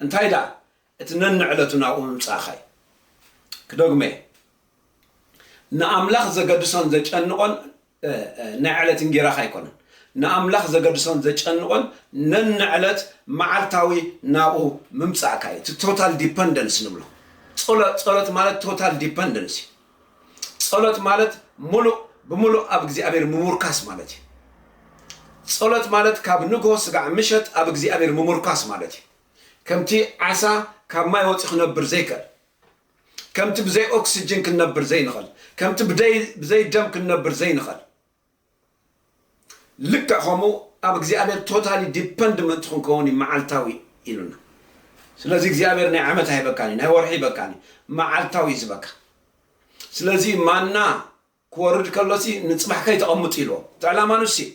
እንታይ ደኣ እቲ ነንዕለቱ ናብኡ ምምጻእኻ እዩ። ክደግሞ'የ፣ ንኣምላኽ ዘገድሶን ዘጨንቖን ናይ ዕለት እንጌራኻ ኣይኮነን። ንኣምላኽ ዘገድሶን ዘጨንቖን ነንዕለት መዓልታዊ ናብኡ ምምጻእካ እዩ፣ እቲ ቶታል ዲፐንደንስ ንብሎ። ጸሎት ማለት ቶታል ዲፐንደንስ እዩ። ጸሎት ማለት ሙሉእ ብሙሉእ ኣብ እግዚኣብሔር ምሙርካስ ማለት እዩ። ጸሎት ማለት ካብ ንግሆ ስጋዕ ምሸት ኣብ እግዚኣብሔር ምሙርካስ ማለት እዩ። ከምቲ ዓሳ ካብ ማይ ወጺ ክነብር ዘይከል ከምቲ ብዘይ ኦክስጅን ክንነብር ዘይንኸል ከምቲ ብዘይ ደም ክንነብር ዘይንኸል ልክዕ ከምኡ ኣብ እግዚኣብሔር ቶታሊ ዲፐንድ ምእንቲ ክንከውን እዩ መዓልታዊ ኢሉና ስለዚ እግዚኣብሔር ናይ ዓመት ኣይበካን እዩ ናይ ወርሒ ይበካን እዩ መዓልታዊ እዩ ዝበካ ስለዚ ማና ክወርድ ከሎሲ ንፅባሕ ከይተቐምጡ ኢልዎ እቲ ዕላማ ንሱ እዩ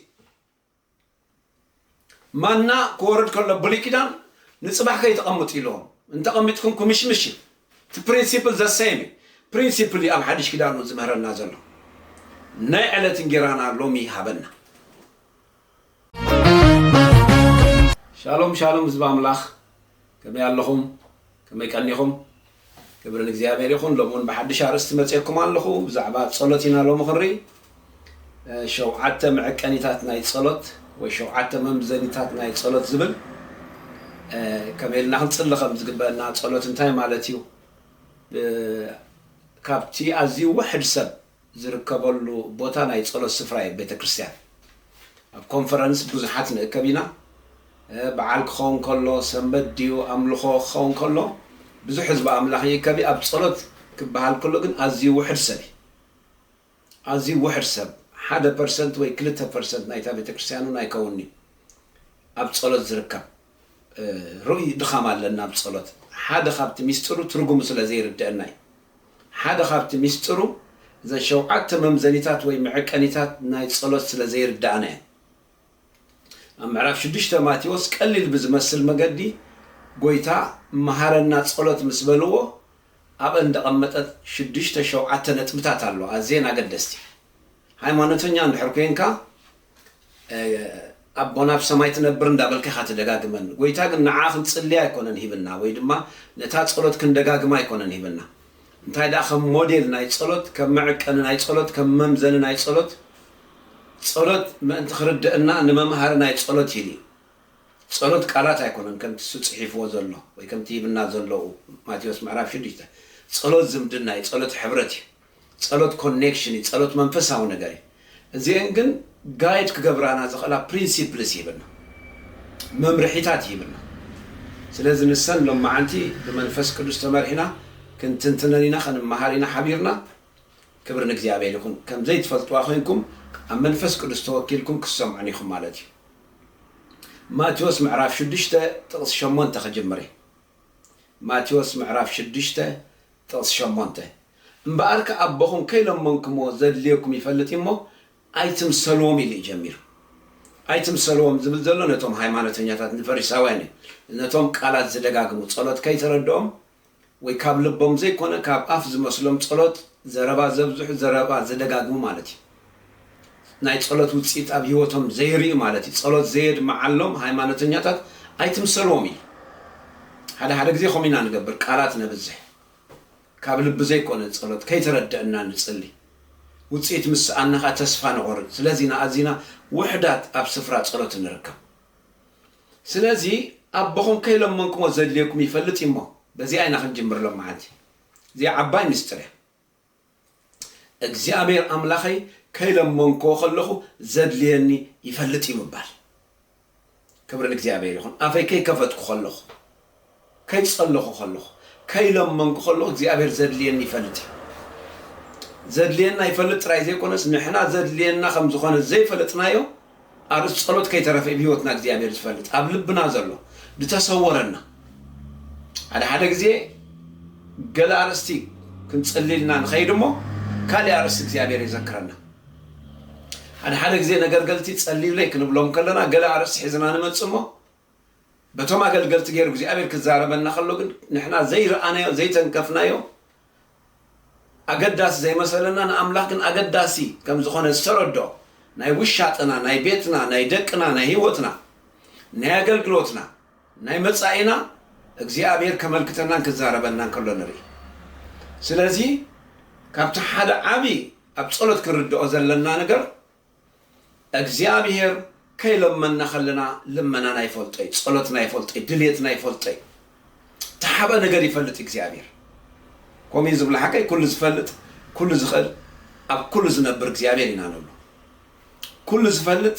ማና ክወርድ ከሎ ብሉይ ኪዳን ንጽባሕ ከይተቀምጡ ኢልዎም እንተቀሚጥኩም ኩምሽምሽ እዩ እቲ ፕሪንሲፕል ዘሰይም እዩ ፕሪንሲፕል እዩ ኣብ ሓድሽ ኪዳን እውን ዝምህረና ዘሎ ናይ ዕለት እንጌራና ሎሚ ሃበና። ሻሎም ሻሎም ህዝቢ ኣምላኽ ከመይ ኣለኹም ከመይ ቀኒኹም ክብሪ ንእግዚኣብሔር ይኹን ሎሚ እውን ብሓድሽ ኣርእስቲ መፅኤኩም ኣለኹ ብዛዕባ ፀሎት ኢና ሎሚ ክንርኢ ሸውዓተ መዐቀኒታት ናይ ፀሎት ወይ ሸውዓተ መምዘኒታት ናይ ፀሎት ዝብል ከመይ ኢልና ክንፅሊ ከም ዝግበአና ፀሎት እንታይ ማለት እዩ ካብቲ ኣዝዩ ውሕድ ሰብ ዝርከበሉ ቦታ ናይ ጸሎት ስፍራ እዩ ቤተ ክርስትያን ኣብ ኮንፈረንስ ብዙሓት ንእከብ ኢና በዓል ክኸውን ከሎ ሰንበት ድዩ ኣምልኾ ክኸውን ከሎ ብዙሕ ህዝቢ ኣምላኽ ይእከብ እዩ ኣብ ጸሎት ክበሃል ከሎ ግን ኣዝዩ ውሕድ ሰብ እዩ ኣዝዩ ውሕድ ሰብ ሓደ ፐርሰንት ወይ ክልተ ፐርሰንት ናይታ ቤተ ክርስትያን እውን ኣይከውንዩ ኣብ ጸሎት ዝርከብ ርኡይ ድኻም ኣለና ኣብ ጸሎት። ሓደ ካብቲ ምስጢሩ ትርጉሙ ስለ ዘይርደኣና እዩ። ሓደ ካብቲ ምስጢሩ እዘን ሸውዓተ መምዘኒታት ወይ መዐቀኒታት ናይ ጸሎት ስለ ዘይርደኣና እየን። ኣብ ምዕራፍ ሽዱሽተ ማቴዎስ ቀሊል ብዝመስል መገዲ ጎይታ መሃረና ጸሎት ምስ በልዎ ኣብአን ዝደቐመጠት ሽዱሽተ ሸውዓተ ነጥብታት ኣሎ ኣዝየን ኣገደስቲ። ሃይማኖተኛ እንድሕር ኮይንካ ኣቦና ኣብ ሰማይ ትነብር እንዳበልካ ኢኻ ትደጋግመን ጎይታ ግን ንዓ ክንጽሊ ኣይኮነን ሂብና ወይ ድማ ነታ ጸሎት ክንደጋግማ ኣይኮነን ሂብና እንታይ ድኣ ከም ሞዴል ናይ ጸሎት ከም መዕቀኒ ናይ ጸሎት ከም መምዘኒ ናይ ጸሎት ጸሎት ምእንቲ ክርደእና ንመምሃሪ ናይ ጸሎት ሂል እዩ ጸሎት ቃላት ኣይኮነን ከምቲ እሱ ጽሒፍዎ ዘሎ ወይ ከምቲ ሂብና ዘሎኡ ማቴዎስ ምዕራፍ ሽዱሽተ ጸሎት ዝምድና እዩ ጸሎት ሕብረት እዩ ጸሎት ኮኔክሽን እዩ ጸሎት መንፈሳዊ ነገር እዩ እዚኤን ግን ጋይድ ክገብራና ዝኽእላ ፕሪንሲፕልስ ይህብና መምርሒታት ይህብና ስለዚ ንሰን ሎማዓንቲ ብመንፈስ ቅዱስ ተመርሒና ክንትንትነን ኢና ክንመሃር ኢና ሓቢርና ክብሪ ንእግዚኣብሔር ይኹን ከምዘይትፈልጥዋ ኮይንኩም ኣብ መንፈስ ቅዱስ ተወኪልኩም ክትሰምዑን ኢኹም ማለት እዩ ማቴዎስ ምዕራፍ ሽዱሽተ ጥቕሲ ሸሞንተ ክጅምር እየ ማቴዎስ ምዕራፍ ሽዱሽተ ጥቕሲ ሸሞንተ፣ እምበኣርከ ኣቦኹም ከይለመንኩምዎ ዘድልየኩም ይፈልጥ እዩ እሞ፣ ኣይትምሰልዎም ኢሉ እዩ ጀሚሩ። ኣይትምሰልዎም ዝብል ዘሎ ነቶም ሃይማኖተኛታት፣ ንፈሪሳውያን እዩ። ነቶም ቃላት ዝደጋግሙ፣ ጸሎት ከይተረድኦም ወይ ካብ ልቦም ዘይኮነ ካብ ኣፍ ዝመስሎም ጸሎት፣ ዘረባ ዘብዝሑ፣ ዘረባ ዝደጋግሙ ማለት እዩ። ናይ ጸሎት ውጽኢት ኣብ ህይወቶም ዘይርእዩ ማለት እዩ። ጸሎት ዘየድምዓሎም ሃይማኖተኛታት ኣይትምሰልዎም እዩ። ሓደ ሓደ ግዜ ከምኡ ኢና ንገብር ቃላት ነብዝሕ ካብ ልቢ ዘይኮነ ጸሎት ከይተረደእና ንጽሊ ውጽኢት ምስ ሰኣና ከኣ ተስፋ ንቆርጽ ስለዚ ኢና ኣዚና ውሑዳት ኣብ ስፍራ ጸሎት እንርከብ ስለዚ ኣቦኹም ከይለመንክሞ ዘድልየኩም ይፈልጥ እዩሞ በዚኣ ኢና ክንጅምር ሎምዓንቲ እዚኣ ዓባይ ምስጢር እያ። እግዚኣብሔር ኣምላኸይ ከይለመንክዎ ከለኹ ዘድልየኒ ይፈልጥ እዩ ምባል። ክብሪ ንእግዚኣብሔር ይኹን። ኣፈይ ከይከፈትኩ ከለኹ፣ ከይጸለኹ ከለኹ፣ ከይለመንኩ ከለኹ እግዚኣብሔር ዘድልየኒ ይፈልጥ እዩ። ዘድልየና ይፈልጥ ጥራይ ዘይኮነስ ንሕና ዘድልየና ከም ዝኾነ ዘይፈለጥናዮ ኣርእስት ጸሎት ከይተረፈ ኢብ ህይወትና እግዚኣብሔር ዝፈልጥ ኣብ ልብና ዘሎ ድተሰወረና ሓደ ሓደ ግዜ ገለ ኣርእስቲ ክንጽልልና ንኸይድ እሞ ካልእ ኣርእስቲ እግዚኣብሔር የዘክረና ሓደ ሓደ ግዜ ነገር ገልቲ ጸልዩለይ ክንብሎም ከለና ገለ ኣርእስቲ ሒዝና ንመጽእ እሞ በቶም ኣገልገልቲ ገይሩ እግዚኣብሔር ክዛረበና ከሎ ግን ንሕና ዘይረኣናዮ ዘይተንከፍናዮ ኣገዳሲ ዘይመሰለና ንኣምላኽ ግን ኣገዳሲ ከም ዝኾነ ዝተረድኦ ናይ ውሻጠና ናይ ቤትና ናይ ደቅና ናይ ህይወትና ናይ ኣገልግሎትና ናይ መጻኢና እግዚኣብሔር ከመልክተናን ክዛረበናን ከሎ ንርኢ ስለዚ ካብቲ ሓደ ዓቢ ኣብ ጸሎት ክንርድኦ ዘለና ነገር እግዚኣብሔር ከይለመና ከለና ልመናና ይፈልጦይ ጸሎትና ይፈልጦይ ድልየትና ይፈልጦይ ተሓበ ነገር ይፈልጥ እግዚኣብሔር ኮሚን ዝብላ ሓቀይ ኩሉ ዝፈልጥ ኩሉ ዝኽእል ኣብ ኩሉ ዝነብር እግዚኣብሔር ኢና ንብሎ ኩሉ ዝፈልጥ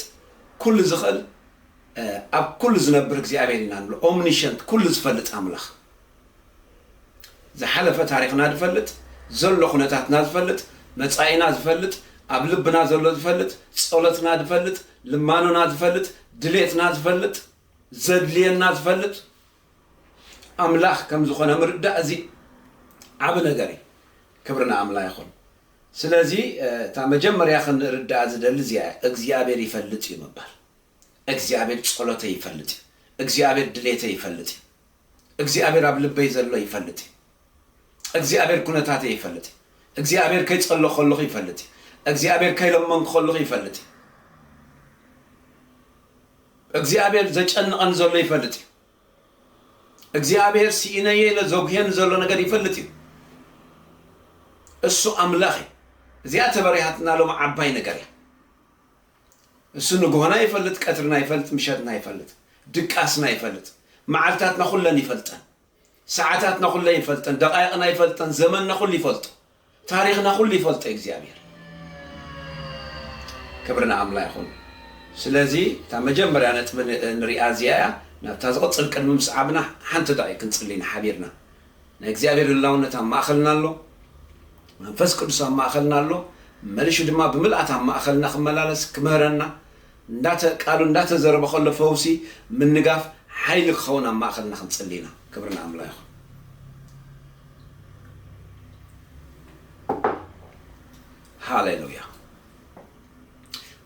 ኩሉ ዝኽእል ኣብ ኩሉ ዝነብር እግዚኣብሔር ኢና ንብሎ ኦምኒሸንት ኩሉ ዝፈልጥ ኣምላኽ ዝሓለፈ ታሪኽና ዝፈልጥ፣ ዘሎ ኩነታትና ዝፈልጥ፣ መጻኢና ዝፈልጥ፣ ኣብ ልብና ዘሎ ዝፈልጥ፣ ጸሎትና ዝፈልጥ፣ ልማኖና ዝፈልጥ፣ ድሌትና ዝፈልጥ፣ ዘድልየና ዝፈልጥ ኣምላኽ ከም ዝኾነ ምርዳእ እዚ ዓቢ ነገር እዩ። ክብሪ ንኣምላ ይኹን። ስለዚ እታ መጀመርያ ክንርዳኣ ዝደሊ እዚኣ እያ። እግዚኣብሔር ይፈልጥ እዩ ምባል። እግዚኣብሔር ጸሎተይ ይፈልጥ እዩ። እግዚኣብሔር ድሌተይ ይፈልጥ እዩ። እግዚኣብሔር ኣብ ልበይ ዘሎ ይፈልጥ እዩ እግዚኣብሔር ኩነታተይ ይፈልጥ እዩ እግዚኣብሔር ከይጸሎ ከለኹ ይፈልጥ እዩ እግዚኣብሔር ከይለመንኩ ከለኹ ይፈልጥ እዩ እግዚኣብሔር ዘጨንቐን ዘሎ ይፈልጥ እዩ እግዚኣብሔር ሲኢነየ ኢለ ዘጉሄን ዘሎ ነገር ይፈልጥ እዩ እሱ ኣምላኽ እዩ እዚኣ ተበሪሃትና ሎም ዓባይ ነገር እያ እሱ ንግሆና ይፈልጥ ቀትርና ይፈልጥ ምሸትና ይፈልጥ ድቃስና ይፈልጥ መዓልታትና ኩለን ይፈልጠን ሰዓታትና ኩለን ይፈልጠን ደቃይቕና ይፈልጠን ዘመንና ኩሉ ይፈልጦ ታሪኽና ኩሉ ይፈልጦ እግዚኣብሔር ክብሪ ንኣምላ ይኹን ስለዚ እታ መጀመርያ ነጥቢ ንሪኣ እዚኣ እያ ናብታ ዝቕፅል ቅድሚ ምስዓብና ሓንቲ ዳይ ክንፅልይ ንሓቢርና ናይ እግዚኣብሔር ህላውነት ኣብ ማእኸልና ኣሎ፣ መንፈስ ቅዱስ ኣብ ማእኸልና ኣሎ፣ መሊሹ ድማ ብምልኣት ኣብ ማእኸልና ክመላለስ ክምህረና እንዳተ ቃሉ እንዳተዘረበ ከሎ ፈውሲ ምንጋፍ ሓይሊ ክኸውን ኣብ ማእኸልና ክንጽሊ ኢና። ክብሪ ንኣምላ ይኹን። ሃሌሉያ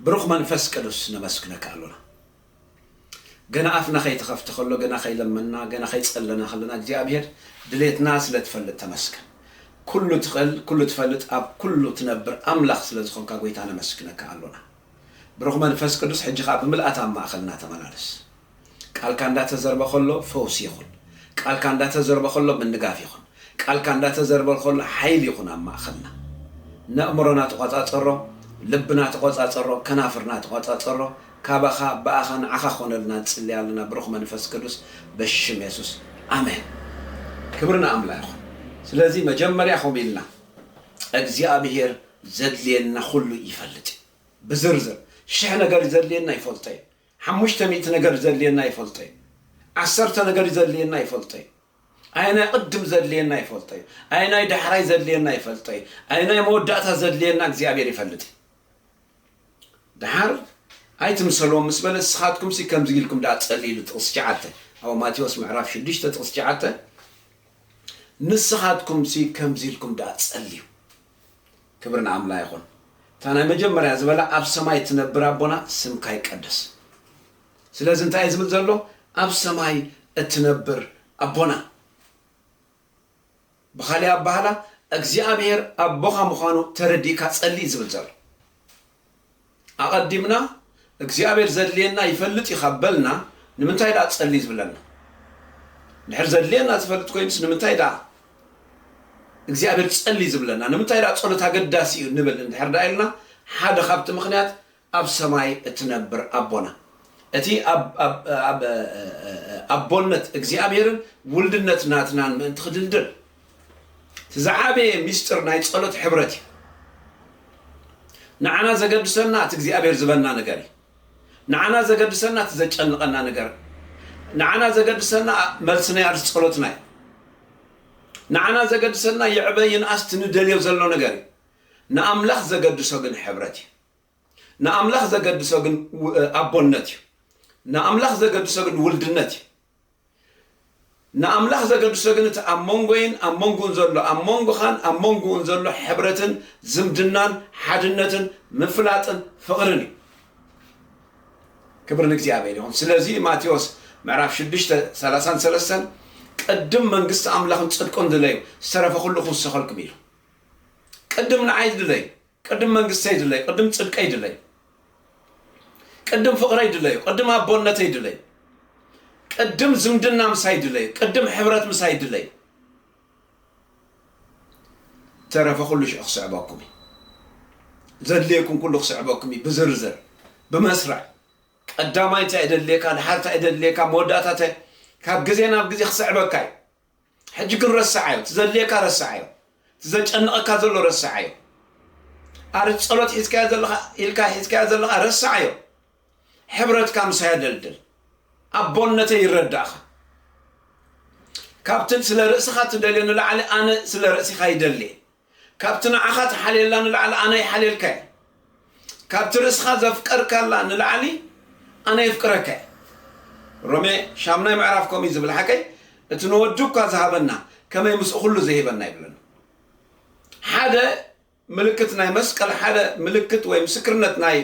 ብሩኽ መንፈስ ቅዱስ ነመስግነካ ኣሎና። ገና ኣፍና ከይተኸፍተ ከሎ ገና ከይለመና ገና ከይጸለና ከለና እግዚኣብሔር ድሌትና ስለ ትፈልጥ ተመስገን ኩሉ ትኽእል ኩሉ ትፈልጥ ኣብ ኩሉ ትነብር ኣምላኽ ስለ ዝኾንካ ጎይታ ነመስግነካ ኣሎና ብሩኽ መንፈስ ቅዱስ ሕጂ ከኣ ብምልኣት ኣብ ማእኸልና ተመላለስ ቃልካ እንዳተዘርበ ከሎ ፈውሲ ይኹን ቃልካ እንዳተዘርበ ከሎ ምንጋፍ ይኹን ቃልካ እንዳተዘርበ ከሎ ሓይል ይኹን ኣብ ማእኸልና። ነእምሮና ተቆጻጸሮ፣ ልብና ተቆጻጸሮ፣ ከናፍርና ተቆጻጸሮ፣ ካባኻ ብኣኻ ንዓኻ ክኾነልና ንጽሊ ኣለና ብሩኽ መንፈስ ቅዱስ በሽም የሱስ ኣሜን። ክብሪ ንኣምላ ይኹን ስለዚ መጀመርያ ከምኡ ኢልና እግዚኣብሄር ዘድልየና ኩሉ ይፈልጥ እዩ ብዝርዝር ሽሕ ነገር ዘድልየና ይፈልጦ እዩ ሓሙሽተ ሚእቲ ነገር ዘድልየና ይፈልጦ እዩ ዓሰርተ ነገር ዘድልየና ይፈልጦ እዩ ኣየናይ ቅድም ዘድልየና ይፈልጦ እዩ ኣየናይ ዳሕራይ ዘድልየና ይፈልጦ እዩ ኣየናይ መወዳእታ ዘድልየና እግዚኣብሔር ይፈልጥ እዩ ደሓር ኣይትምሰልዎም ምስ በለ ንስኻትኩም ሲ ከምዚ ኢልኩም ደኣ ጸሊ ኢሉ ጥቕሲ ሸዓተ ኣብ ማቴዎስ ምዕራፍ ሽዱሽተ ጥቕሲ ሸዓተ ንስኻትኩም ሲ ከምዚ ኢልኩም ደኣ ጸልዩ ክብሪ ንኣምላ ይኹን እታ ናይ መጀመርያ ዝበላ ኣብ ሰማይ ትነብር ኣቦና ስምካ ይቀደስ ስለዚ እንታይ እዩ ዝብል ዘሎ ኣብ ሰማይ እትነብር ኣቦና ብኻሊእ ኣባህላ እግዚኣብሔር ኣቦኻ ምዃኑ ተረዲእካ ጸሊ ዝብል ዘሎ ኣቐዲምና እግዚኣብሔር ዘድልየና ይፈልጥ እዩ ካብ በልና ንምንታይ ደኣ ጸሊ ዝብለና ድሕር ዘድልየና ዝፈልጥ ኮይኑስ ንምንታይ ደኣ እግዚኣብሔር ጸሊ ዝብለና ንምንታይ ደኣ ጸሎት ኣገዳሲ እዩ ንብል እንድሕር ደኣ ኢልና ሓደ ካብቲ ምክንያት ኣብ ሰማይ እትነብር ኣቦና እቲ ኣብ ኣቦነት እግዚኣብሔርን ውልድነት ናትናን ምእንቲ ክድልድል እቲ ዝዓበየ ሚስጥር ናይ ጸሎት ሕብረት እዩ ንዓና ዘገድሰና እቲ እግዚኣብሔር ዝበና ነገር እዩ ንዓና ዘገድሰና እቲ ዘጨንቐና ነገር ንዓና ዘገድሰና መልሲ ናይ ኣርስ ጸሎትና እዩ ንዓና ዘገድሰና ይዕበ ይንኣስ ትንደልዮ ዘሎ ነገር እዩ ንኣምላኽ ዘገድሶ ግን ሕብረት እዩ ንኣምላኽ ዘገድሶ ግን ኣቦነት እዩ። ንኣምላኽ ዘገድሶ ግን ውልድነት እዩ። ንኣምላኽ ዘገድሶ ግን እቲ ኣብ መንጎይን ኣብ መንጉን ዘሎ ኣብ መንጎኻን ኣብ መንጉኡን ዘሎ ሕብረትን ዝምድናን ሓድነትን ምፍላጥን ፍቕርን እዩ። ክብር ንእግዚኣብሔር ይኹን። ስለዚ ማቴዎስ ምዕራፍ 6 ሰላሳን ሰለስተን ቅድም መንግስቲ ኣምላኽን ጽድቁን ድለዩ ዝተረፈ ኩሉ ክውሰኸልኩም ኢሉ ቅድም ንዓይ ድለዩ ቅድም መንግስተይ ድለዩ ቅድም ጽድቀይ ድለዩ ቅድም ፍቕረይ ድለዩ ቅድም ኣቦነተይ ድለዩ ቅድም ዝምድና ምሳይ ድለዩ ቅድም ሕብረት ምሳይ ድለዩ ተረፈ ኩሉ ሽዑ ክስዕበኩም እዩ ዘድልየኩም ኩሉ ክስዕበኩም እዩ ብዝርዝር ብመስርዕ ቀዳማይ እንታይ እደድልየካ ድሓር እንታይ እደድልየካ መወዳእታ እንታይ ካብ ግዜ ናብ ግዜ ክስዕበካ እዩ ሕጂ ግን ረስዓዮ እቲ ዘድልየካ ረስዓዮ እቲ ዘጨንቐካ ዘሎ ረስዓዮ ኣር ጸሎት ሒዝካዮ ዘለኻ ኢልካ ሒዝካዮ ዘለኻ ረስዓዮ ሕብረትካ ምሳይ ኣደልድል ኣቦነተይ ይረዳእኻ ካብትን ስለ ርእስኻ ትደልዮ ንላዕሊ ኣነ ስለ ርእሲኻ ይደልየ ካብቲ ንዓኻ ትሓልየላ ንላዕሊ ኣነ ይሓልየልካ እየ። ካብቲ ርእስኻ ዘፍቀርካላ ንላዕሊ ኣነ የፍቅረካ እየ። ሮሜ ሻምናይ ምዕራፍ ከምኡ እዩ ዝብል ሓቀይ እቲ ንወዱ እኳ ዝሃበና ከመይ ምስኡ ኩሉ ዘይህበና ይብለና። ሓደ ምልክት ናይ መስቀል ሓደ ምልክት ወይ ምስክርነት ናይ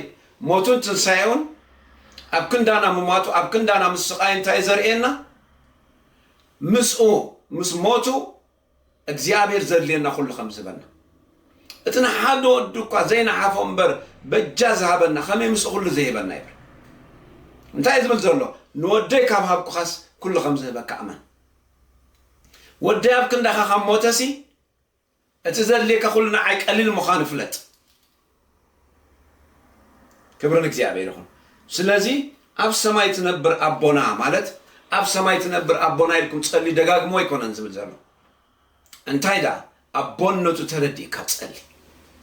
ሞቱን ትንሳኤውን ኣብ ክንዳና ምሟቱ ኣብ ክንዳና ምስቃይ እንታይ ዘርእየና ምስኡ ምስ ሞቱ እግዚኣብሔር ዘድልየና ኩሉ ከም ዝህበና እቲ ንሓደ ወዱ እኳ ዘይነሓፎ እምበር በጃ ዝሃበና ከመይ ምስ ኩሉ ዘይህበና ይብል እንታይ ዝብል ዘሎ ንወደይ ካብ ሃብኩኻስ ኩሉ ከም ዝህበካ እመን ወደይ ኣብ ክንዳኻ ካብ ሞተሲ እቲ ዘድልየካ ኩሉ ንዓይ ቀሊል ምዃኑ ፍለጥ ክብሪ ንእግዚኣብሔር ይኹን ስለዚ ኣብ ሰማይ ትነብር ኣቦና ማለት ኣብ ሰማይ ትነብር ኣቦና ኢልኩም ጸልዩ ደጋግሞ ኣይኮነን ዝብል ዘሎ እንታይ ደኣ ኣቦነቱ ተረዲእካ ጸሊ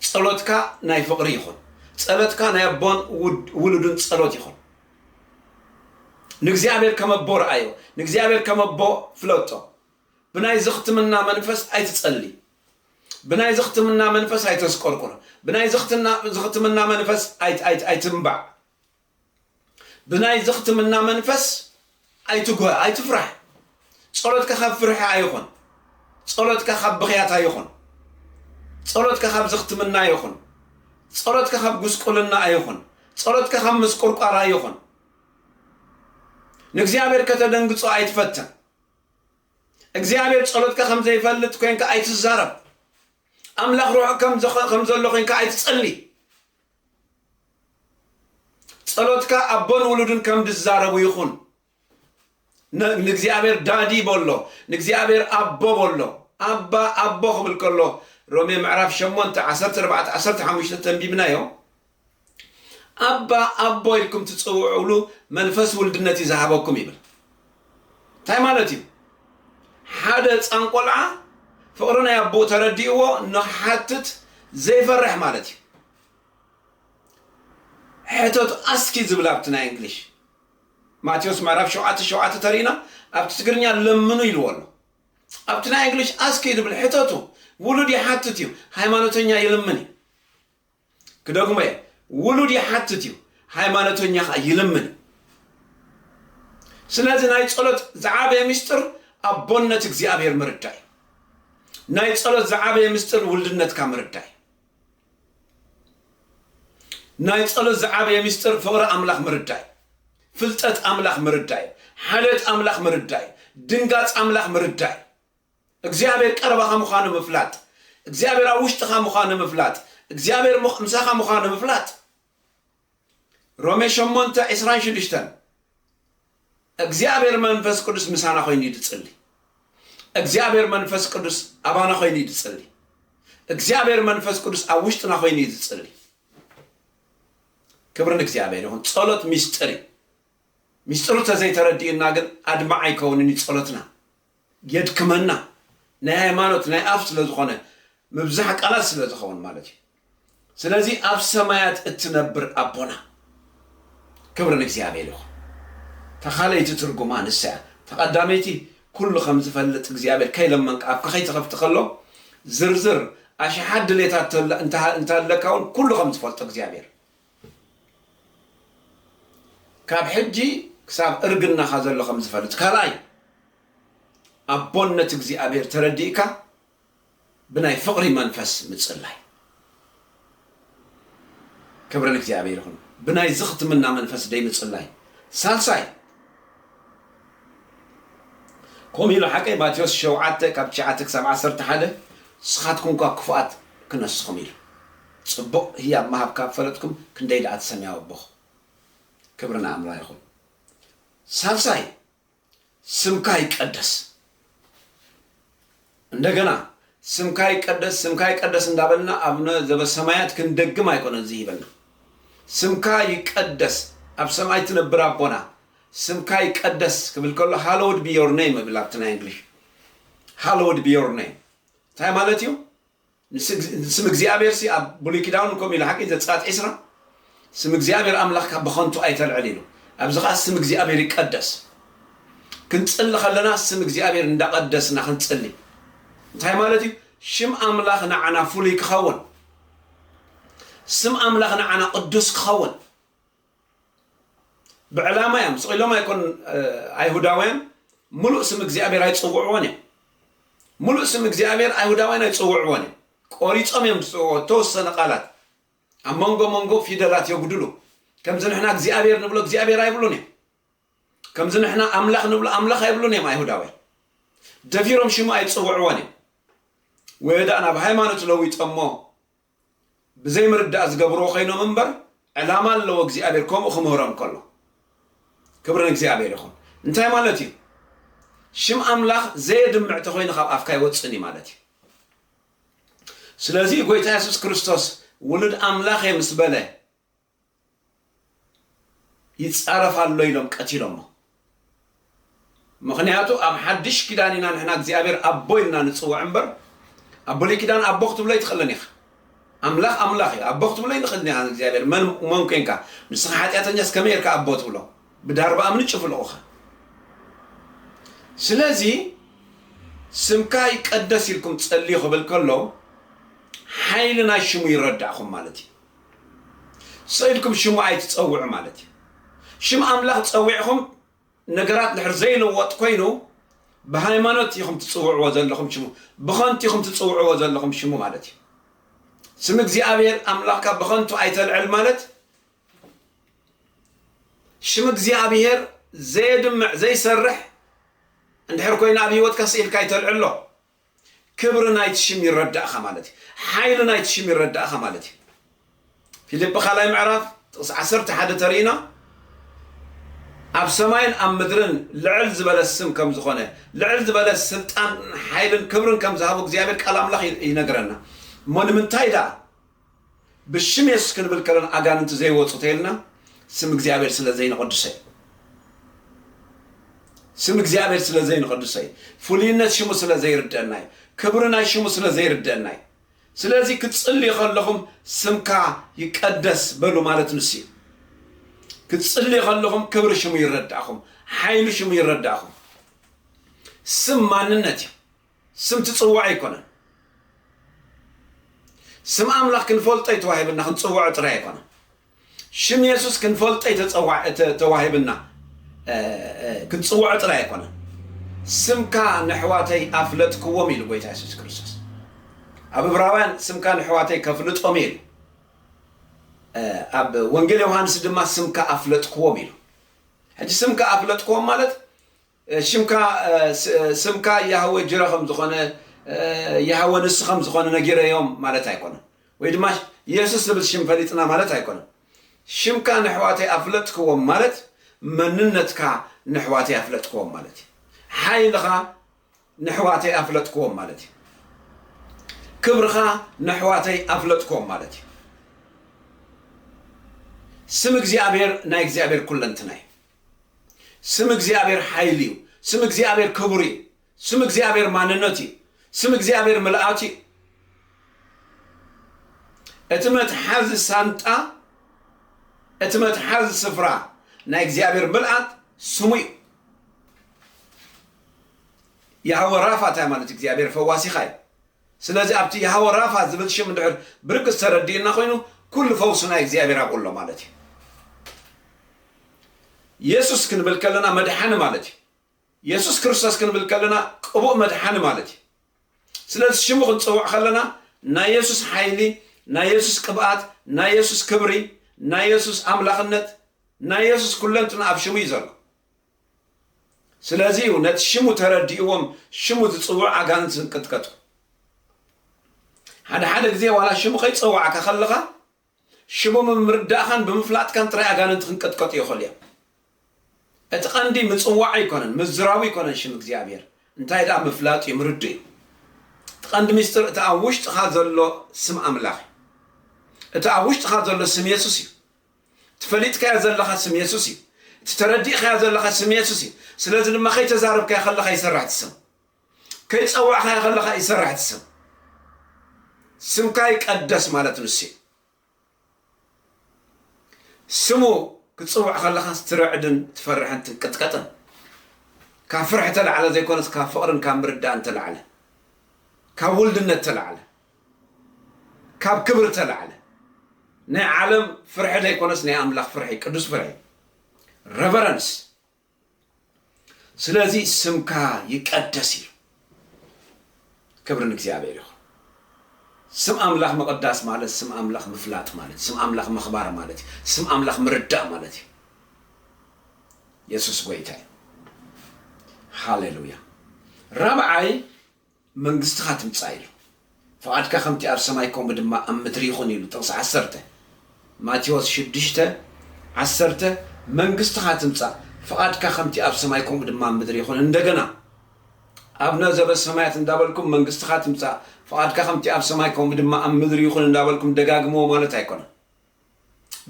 ጸሎትካ ናይ ፍቕሪ ይኹን ጸሎትካ ናይ ኣቦን ውሉድን ጸሎት ይኹን ንእግዚኣብሔር ከም ኣቦ ረኣዮ ንእግዚኣብሔር ከም ኣቦ ፍለጦ ብናይ ዝኽትምና መንፈስ ኣይትጸሊ ብናይ ዝኽትምና መንፈስ ኣይተስቆርቁር፣ ብናይ ዝኽትና ዝኽትምና መንፈስ ኣይት ኣይት ኣይትንባዕ፣ ብናይ ዝኽትምና መንፈስ ኣይትጉሀ፣ ኣይትፍራሕ። ጸሎትካ ካብ ፍርሒ ኣይኹን፣ ጸሎትካ ካብ ብኽያት ኣይኹን፣ ጸሎትካ ካብ ዝኽትምና ኣይኹን፣ ጸሎትካ ካብ ጉስቁልና ኣይኹን፣ ጸሎትካ ካብ ምስቁርቋር ኣይኹን። ንእግዚኣብሔር ከተደንግጾ ኣይትፈትን። እግዚኣብሔር ጸሎትካ ከም ዘይፈልጥ ኮንካ ኣይትዛረብ ኣምላኽ ርሑቕ ከም ዘኸ ከም ዘሎ ኮንካ ኣይትጸሊ ጸሎትካ ኣቦን ውሉድን ከም ዝዛረቡ ይኹን ንእግዚኣብሔር ዳዲ በሎ ንእግዚኣብሔር ኣቦ በሎ ኣባ ኣቦ ክብል ከሎ ሮሜ ምዕራፍ 8 14 15 ተንቢብናዮ ኣባ ኣቦ ኢልኩም ትጽውዕሉ መንፈስ ውልድነት እዩ ዝሃበኩም ይብል እንታይ ማለት እዩ ሓደ ህፃን ቆልዓ ፍቕሪ ናይ ኣቦኡ ተረዲእዎ ንክሓትት ዘይፈርሕ ማለት እዩ ሕተቱ ኣስኪ ዝብል ኣብቲ ናይ እንግሊሽ ማቴዎስ ምዕራፍ ሸውዓተ ሸውዓተ ተሪእና ኣብቲ ትግርኛ ለምኑ ኢልዎ ኣሎ ኣብቲ ናይ እንግሊሽ ኣስኪ ዝብል ሕተቱ ውሉድ ይሓትት እዩ ሃይማኖተኛ ይልምን እዩ ክደግሞ እየ ውሉድ ይሓትት እዩ ሃይማኖተኛ ከኣ ይልምን እዩ ስለዚ ናይ ጸሎት ዝዓበየ ምስጢር ኣቦነት እግዚኣብሔር ምርዳእ እዩ ናይ ጸሎት ዝዓበየ ምስጢር ውልድነትካ ምርዳእ እዩ ናይ ጸሎት ዝዓበየ ምስጢር ፍቕሪ ኣምላኽ ምርዳእ እዩ ፍልጠት ኣምላኽ ምርዳእ እዩ ሓልዮት ኣምላኽ ምርዳእ እዩ ድንጋጽ ኣምላኽ ምርዳእ እዩ እግዚኣብሔር ቀረባኻ ምዃኑ ምፍላጥ፣ እግዚኣብሔር ኣብ ውሽጥኻ ምዃኑ ምፍላጥ፣ እግዚኣብሔር ምሳኻ ምዃኑ ምፍላጥ። ሮሜ ሸሞንተ ዕስራን ሽዱሽተን እግዚኣብሔር መንፈስ ቅዱስ ምሳና ኮይኑ እዩ ዝጽሊ። እግዚኣብሔር መንፈስ ቅዱስ ኣባና ኮይኑ እዩ ዝጽሊ። እግዚኣብሔር መንፈስ ቅዱስ ኣብ ውሽጥና ኮይኑ እዩ ዝጽሊ። ክብሪ ንእግዚኣብሔር ይኹን። ጸሎት ሚስጥር እዩ። ሚስጥሩ ተዘይተረዲኡና ግን ኣድማዕ ኣይከውንን እዩ ጸሎትና። የድክመና ናይ ሃይማኖት ናይ ኣፍ ስለ ዝኾነ ምብዛሕ ቃላት ስለ ዝኸውን ማለት እዩ ስለዚ ኣብ ሰማያት እትነብር ኣቦና ክብሪ ንእግዚኣብሔር ይኹን ተኻለይቲ ትርጉማ ንሳ እያ ተቐዳመይቲ ኩሉ ከም ዝፈልጥ እግዚኣብሔር ከይለመንካ ኣፍካ ከይትኸፍቲ ከሎ ዝርዝር ኣሽሓት ድሌታት እንተሃለካ እውን ኩሉ ከም ዝፈልጦ እግዚኣብሔር ካብ ሕጂ ክሳብ እርግናኻ ዘሎ ከም ዝፈልጥ፣ ካልኣይ ኣቦነት እግዚኣብሔር ተረዲእካ ብናይ ፍቕሪ መንፈስ ምጽላይ። ክብሪ ንእግዚኣብሔር ይኹን። ብናይ ዝኽትምና መንፈስ ደይ ምጽላይ። ሳልሳይ ከምኡ ኢሉ ሓቀይ ማቴዎስ ሸውዓተ ካብ ትሽዓተ ክሳብ ዓሰርተ ሓደ ንስኻትኩም እኳ ክፉኣት ክነስኹም ኢሉ ጽቡቅ ህያብ ምሃብ ካብ ፈለጥኩም ክንደይ ድኣ ትሰምያው ኣቦኽ ክብሪ ንኣምራ ይኹን ሳልሳይ ስምካ ይቀደስ እንደገና ስምካ ይቀደስ ስምካ ይቀደስ እንዳበልና ኣብነ ዘበሰማያት ክንደግም ኣይኮነን ዝሂበና ስምካ ይቀደስ ኣብ ሰማይ ትነብር ኣቦና ስምካ ይቀደስ ክብል ከሎ ሃሎውድ ቢ ዮር ኔም እብል ኣብቲ ናይ እንግሊሽ ሃሎውድ ቢ ዮር ኔም እንታይ ማለት እዩ ንስም እግዚኣብሔርሲ ኣብ ብሉይ ኪዳውን ከምኡ ኢሉ ሓቂ ዘጸኣት ዕስራ ስም እግዚኣብሔር ኣምላኽካ ብኸንቱ ኣይተልዕል ኢሉ ኣብዚ ከኣ ስም እግዚኣብሔር ይቀደስ ክንጽሊ ከለና ስም እግዚኣብሔር እንዳቀደስና ክንጽሊ እንታይ ማለት እዩ ሽም ኣምላኽ ንዓና ፍሉይ ክኸውን ስም ኣምላኽ ንዓና ቅዱስ ክኸውን ብዕላማ እዮም ስቂሎም ኣይኮን ኣይሁዳውያን ሙሉእ ስም እግዚኣብሔር ኣይፅውዕዎን እዮም ሙሉእ ስም እግዚኣብሔር ኣይሁዳውያን ኣይፅውዕዎን እዮም ቆሪፆም እዮም ዝፅውዕዎ ተወሰነ ቃላት ኣብ መንጎ መንጎ ፊደላት የጉድሉ ከምዚ ንሕና እግዚኣብሔር ንብሎ እግዚኣብሔር ኣይብሉን እዮም ከምዚ ንሕና ኣምላኽ ንብሎ ኣምላኽ ኣይብሉን እዮም ኣይሁዳውያን ደፊሮም ሽሙ ኣይፅውዕዎን እዮም ወየዳእና ብሃይማኖት ለዊጦሞ ብዘይ ምርዳእ ዝገብርዎ ኮይኖም እምበር ዕላማ ኣለዎ እግዚኣብሔር ከምኡ ክምህሮም ከሎ ክብሪ ንእግዚኣብሔር ይኹን እንታይ ማለት እዩ ሽም ኣምላኽ ዘየድምዕ ተኮይኑ ካብ ኣፍካ ይወፅን እዩ ማለት እዩ ስለዚ ጎይታ የሱስ ክርስቶስ ውሉድ ኣምላኽ እየ ምስ በለ ይጻረፍ ኣሎ ኢሎም ቀቲሎሞ ምኽንያቱ ኣብ ሓድሽ ኪዳን ኢና ንሕና እግዚኣብሔር ኣቦ ኢልና ንጽውዕ እምበር ኣብ ብሉይ ኪዳን ኣቦ ክትብሎ ኣይትኽእልን ኢኻ ኣምላኽ ኣምላኽ እዩ ኣቦ ክትብሎ ይንኽእል ኒኻ ንእግዚኣብሔር መን መን ኮንካ ንስኻ ሓጢኣተኛስ ከመይ ጌርካ ኣቦ ትብሎ ብዳርባ እምኒ ጭፍልቑኻ ስለዚ ስምካ ይቀደስ ኢልኩም ጸልዩ ክብል ከሎ ሓይሊ ናይ ሽሙ ይረዳእኹም ማለት እዩ ሰብ ኢልኩም ሽሙ ኣይትጸውዑ ማለት እዩ። ሽም ኣምላኽ ጸዊዕኹም ነገራት ድሕር ዘይልወጥ ኮይኑ ብሃይማኖት ኢኹም ትጽውዕዎ ዘለኹም ሽሙ ብኸንቱ ኢኹም ትጽውዕዎ ዘለኹም ሽሙ ማለት እዩ። ስም እግዚኣብሔር ኣምላኽካ ብኸንቱ ኣይተልዕል ማለት ሽም እግዚኣብሔር ዘየድምዕ ዘይሰርሕ እንድሕር ኮይኑ ኣብ ህይወትካ ስኢልካ ኣይተልዕሎ ክብሪ ናይቲ ሽም ይረዳእኻ ማለት እዩ። ሓይሊ ናይቲ ሽም ይረዳእኻ ማለት እዩ። ፊልጵ ካልኣይ ምዕራፍ ጥቕሲ ዓሰርተ ሓደ ተሪእና ኣብ ሰማይን ኣብ ምድርን ልዕል ዝበለ ስም ከም ዝኾነ ልዕል ዝበለ ስልጣን ሓይልን ክብርን ከም ዝሃቦ እግዚኣብሔር ቃል ኣምላኽ ይነግረና እሞ ንምንታይ ደኣ ብሽም የሱስ ክንብል ከለና ኣጋንንቲ ዘይወጹ ተይልና ስም እግዚኣብሔር ስለ ዘይንቅድሰ እዩ ስም እግዚኣብሔር ስለ ዘይንቅድሰ እዩ ፍሉይነት ሽሙ ስለ ዘይርደና እዩ ክብሪ ናይ ሽሙ ስለ ዘይርደና እዩ ስለዚ ክትጽልዩ ከለኹም ስምካ ይቀደስ በሉ ማለት ንሱ እዩ ክትጽልዩ ከለኹም ክብሪ ሽሙ ይረዳእኹም ሓይሉ ሽሙ ይረዳእኹም ስም ማንነት እዩ ስም ትጽውዕ ኣይኮነን ስም ኣምላኽ ክንፈልጦ እዩ ተዋሂብና ክንጽውዖ ጥራይ ኣይኮነን ሽም የሱስ ክንፈልጦ እዩ ተዋሂብና ክንጽውዖ ጥራይ ኣይኮነን ስምካ ንሕዋተይ ኣፍለጥክዎም ኢሉ ጎይታ የሱስ ክርስቶስ ኣብ እብራውያን ስምካ ንሕዋተይ ከፍልጦም እዩ ኢሉ ኣብ ወንጌል ዮሃንስ ድማ ስምካ ኣፍለጥክዎም ኢሉ ሕጂ ስምካ ኣፍለጥክዎም ማለት ሽምካ ስምካ ያህወ ጅረ ከም ዝኮነ ያህወ ንሱ ከም ዝኮነ ነጊረዮም ማለት ኣይኮነን ወይ ድማ የሱስ ዝብል ሽም ፈሊጥና ማለት ኣይኮነን ሽምካ ነሕዋተይ ኣፍለጥክዎም ማለት መንነትካ ነሕዋተይ ኣፍለጥክዎም ማለት እዩ ሓይልካ ነሕዋተይ ኣፍለጥክዎም ማለት እዩ ክብርካ ነሕዋተይ ኣፍለጥክዎም ማለት እዩ ስም እግዚኣብሔር ናይ እግዚኣብሔር ኩለንትና እዩ ስም እግዚኣብሔር ሓይል እዩ ስም እግዚኣብሔር ክቡር እዩ ስም እግዚኣብሔር ማንነት እዩ ስም እግዚኣብሔር ምልኣት እዩ እቲ መትሓዚ ሳንጣ እቲ መትሓዚ ስፍራ ናይ እግዚኣብሔር ምልኣት ስሙ እዩ ያህወ ራፋ እንታይ ማለት እግዚኣብሔር ፈዋሲኻ እዩ ስለዚ ኣብቲ ያህወ ራፋ ዝብል ሽም እንድሕር ብርግጽ ተረዲኡና ኮይኑ ኩሉ ፈውሲ ናይ እግዚኣብሔር ኣብኡ ኣሎ ማለት እዩ። የሱስ ክንብል ከለና መድሓኒ ማለት እዩ። የሱስ ክርስቶስ ክንብል ከለና ቅቡእ መድሓኒ ማለት እዩ። ስለዚ ሽሙ ክንጽውዕ ከለና ናይ የሱስ ሓይሊ፣ ናይ የሱስ ቅብኣት፣ ናይ የሱስ ክብሪ፣ ናይ የሱስ ኣምላኽነት፣ ናይ የሱስ ኩለንትና ኣብ ሽሙ እዩ ዘሎ። ስለዚ እዩ ነቲ ሽሙ ተረዲእዎም ሽሙ ዝጽውዑ ኣጋንንቲ ዝንቅጥቀጡ። ሓደ ሓደ ግዜ ዋላ ሽሙ ከይጸዋዕካ ከለኻ ሽሙ ብምርዳእኻን ብምፍላጥካን ጥራይ ኣጋንንቲ ክንቀጥቀጡ ይኽእሉ እዮም። እቲ ቀንዲ ምጽዋዕ ኣይኮነን፣ ምዝራቡ ኣይኮነን ሽም እግዚኣብሔር እንታይ ደኣ ምፍላጥ እዩ፣ ምርዱ እዩ። እቲ ቀንዲ ሚስጥር እቲ ኣብ ውሽጥኻ ዘሎ ስም ኣምላኽ እዩ። እቲ ኣብ ውሽጥኻ ዘሎ ስም የሱስ እዩ። እቲ ፈሊጥካዮ ዘለኻ ስም የሱስ እዩ። እቲ ተረዲእኻዮ ዘለኻ ስም የሱስ እዩ። ስለዚ ድማ ከይተዛረብካዮ ከለኻ ይሰርሕ እቲ ስም። ከይጸዋዕኻዮ ከለኻ ይሰርሕ እቲ ስም። ስምካ ይቀደስ ማለት ንሱ እዩ። ስሙ ክትጽውዕ ከለኻስ ትርዕድን ትፈርሕን ትንቅጥቀጥን። ካብ ፍርሒ ተላዕለ ዘይኮነስ ካብ ፍቕርን ካብ ምርዳእን ተላዕለ ካብ ውልድነት ተላዕለ ካብ ክብሪ እተላዕለ ናይ ዓለም ፍርሒ ዘይኮነስ ናይ ኣምላኽ ፍርሒ ቅዱስ ፍርሒ ረቨረንስ ስለዚ ስምካ ይቀደስ ኢሉ ክብሪ ንእግዚኣብሔር ይኹን ስም ኣምላኽ ምቕዳስ ማለት ስም ኣምላኽ ምፍላጥ ማለት ስም ኣምላኽ ምኽባር ማለት እዩ ስም ኣምላኽ ምርዳእ ማለት እዩ የሱስ ጎይታ እዩ ሃሌሉያ ራብዓይ መንግስትኻ ትምጻእ ኢሉ። ፍቓድካ ከምቲ ኣብ ሰማይ ከምኡ ድማ ኣብ ምድሪ ይኹን ኢሉ ጥቕሲ ዓሰርተ ማቴዎስ ሽዱሽተ ዓሰርተ መንግስትኻ ትምጻእ ፍቓድካ ከምቲ ኣብ ሰማይ ከምኡ ድማ ኣብ ምድሪ ይኹን እንደገና ኣብነ ዘበሰማያት እንዳበልኩም መንግስትኻ ትምጻእ ፍቓድካ ከምቲ ኣብ ሰማይ ከምኡ ድማ ኣብ ምድሪ ይኹን እንዳበልኩም ደጋግምዎ ማለት ኣይኮነን።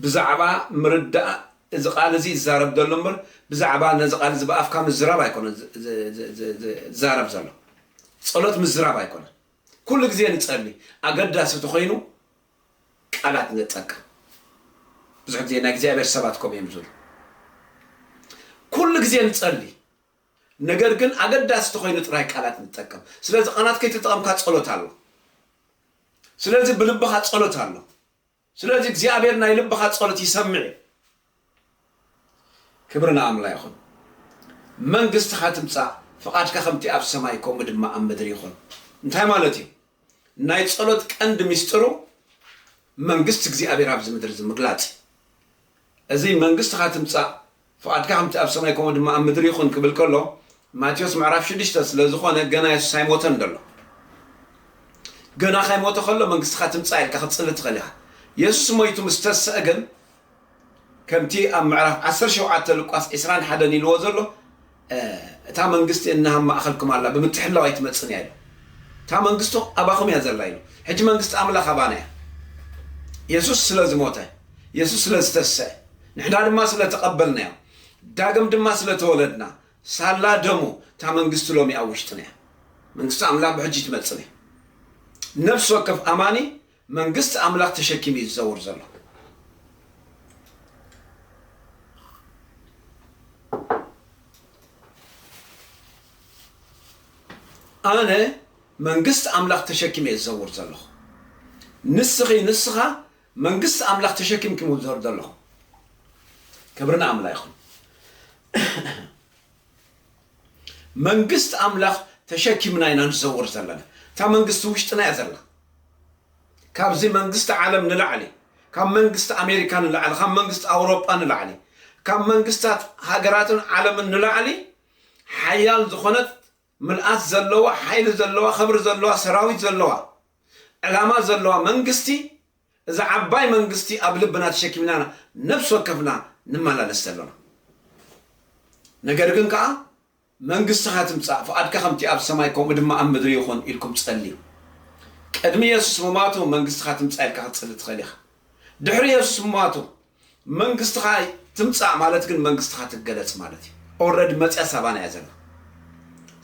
ብዛዕባ ምርዳእ እዚ ቃል እዚ ይዛረብ ዘሎ እምበር ብዛዕባ ነዚ ቃል እዚ ብኣፍካ ምዝራብ ኣይኮነን ዝዛረብ ዘሎ። ጸሎት ምዝራብ ኣይኮነን። ኩሉ ግዜ ንጸሊ፣ ኣገዳሲ ተኾይኑ ቃላት ንጠቀም። ብዙሕ ግዜ ናይ እግዚኣብሔር ሰባት ከምኡ እዮም ዝብሉ። ኩሉ ግዜ ንጸሊ፣ ነገር ግን ኣገዳሲ ተኾይኑ ጥራይ ቃላት ንጠቀም። ስለዚ ቃላት ከይተጠቐምካ ጸሎት ኣሎ። ስለዚ ብልብኻ ጸሎት ኣሎ። ስለዚ እግዚኣብሔር ናይ ልብኻ ጸሎት ይሰምዕ እዩ ክብሪ ንኣምላ ይኹን መንግስትኻ ትምጻእ ፍቓድካ ከምቲ ኣብ ሰማይ ከምኡ ድማ ኣብ ምድሪ ይኹን እንታይ ማለት እዩ ናይ ጸሎት ቀንዲ ሚስጥሩ መንግስቲ እግዚኣብሔር ኣብዚ ምድሪ እዚ ምግላጽ እዩ እዚ መንግስትኻ ትምጻእ ፍቓድካ ከምቲ ኣብ ሰማይ ከምኡ ድማ ኣብ ምድሪ ይኹን ክብል ከሎ ማቴዎስ ምዕራፍ ሽዱሽተ ስለ ዝኾነ ገና የሱስ ኣይሞተን ደሎ ገና ካይሞተ ከሎ መንግስትኻ ትምጻእ ኢልካ ክትጽሊ ትኽእል ኢኻ የሱስ ሞይቱ ምስ ተስእ ግን ከምቲ ኣብ ምዕራፍ ዓሰርተ ሸውዓተ ሉቃስ ዕስራን ሓደን ኢልዎ ዘሎ እታ መንግስቲ እንሃም ማእኸልኩም ኣላ ብምትሕልላው ኣይትመፅን እያ ኢሎም። እታ መንግስቱ ኣባኹም እያ ዘላ ኢሎም። ሕጂ መንግስቲ ኣምላኽ ኣባና እያ። የሱስ ስለ ዝሞተ፣ የሱስ ስለ ዝተስሰዐ፣ ንሕና ድማ ስለ ተቐበልናዮ፣ ዳግም ድማ ስለ ተወለድና፣ ሳላ ደሙ እታ መንግስቲ ሎሚ ኣብ ውሽጥና እያ። መንግስቲ ኣምላኽ ብሕጂ ትመፅን እያ። ነፍሲ ወከፍ ኣማኒ መንግስቲ ኣምላኽ ተሸኪሙ እዩ ዝዘውር ዘሎ። ኣነ መንግስቲ ኣምላኽ ተሸኪመ እየ ዝዘውር ዘለኹ። ንስኺ ንስኻ መንግስቲ ኣምላኽ ተሸኪምኩም ዝዘር ዘለኹም ክብርና ኣምላ ይኹን። መንግስት ኣምላኽ ተሸኪምና ኢና ንዘውር ዘለና እታ መንግስቲ ውሽጥና እያ ዘላ ካብዚ መንግስት ዓለም ንላዕሊ ካብ መንግስት ኣሜሪካ ንላዕሊ ካብ መንግስት ኣውሮጳ ንላዕሊ ካብ መንግስታት ሃገራትን ዓለምን ንላዕሊ ሓያል ዝኾነት ምልኣት ዘለዋ ሓይሊ ዘለዋ ክብሪ ዘለዋ ሰራዊት ዘለዋ ዕላማ ዘለዋ መንግስቲ እዛ ዓባይ መንግስቲ ኣብ ልብና ተሸኪምና ነብሲ ወከፍና ንመላለስ ዘሎና። ነገር ግን ከኣ መንግስትኻ ትምጻእ ፍቓድካ ከምቲ ኣብ ሰማይ ከምኡ ድማ ኣብ ምድሪ ይኹን ኢልኩም ጸልዩ። ቅድሚ የሱስ ምሟቱ መንግስትኻ ትምጻእ ኢልካ ክትጽሊ ትኽእል ኢኻ። ድሕሪ የሱስ ምሟቱ መንግስትኻ ትምጻእ ማለት ግን መንግስትኻ ትገለጽ ማለት እዩ ኦልረዲ መጽያ ሳባና እያ ዘላ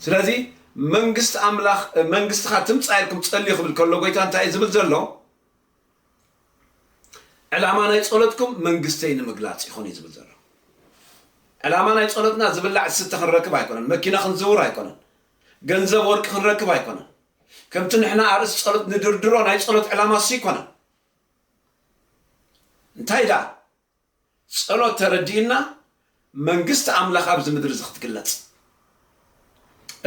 ስለዚ መንግስት ኣምላኽ መንግስትኻ ትምጻእ ኢልኩም ጸልዩ ክብል ከሎ ጎይታ እንታይ እዩ ዝብል ዘሎ ዕላማ ናይ ጸሎትኩም መንግስተይ ንምግላጽ ይኹን እዩ ዝብል ዘሎ ዕላማ ናይ ጸሎትና ዝብላዕ ዝስተ ክንረክብ ኣይኮነን መኪና ክንዝውር ኣይኮነን ገንዘብ ወርቂ ክንረክብ ኣይኮነን ከምቲ ንሕና ኣርእስቲ ጸሎት ንድርድሮ ናይ ጸሎት ዕላማ እሱ ኣይኮነን እንታይ ደኣ ጸሎት ተረዲእና መንግስቲ ኣምላኽ ኣብዚ ምድሪ እዚ ክትግለጽ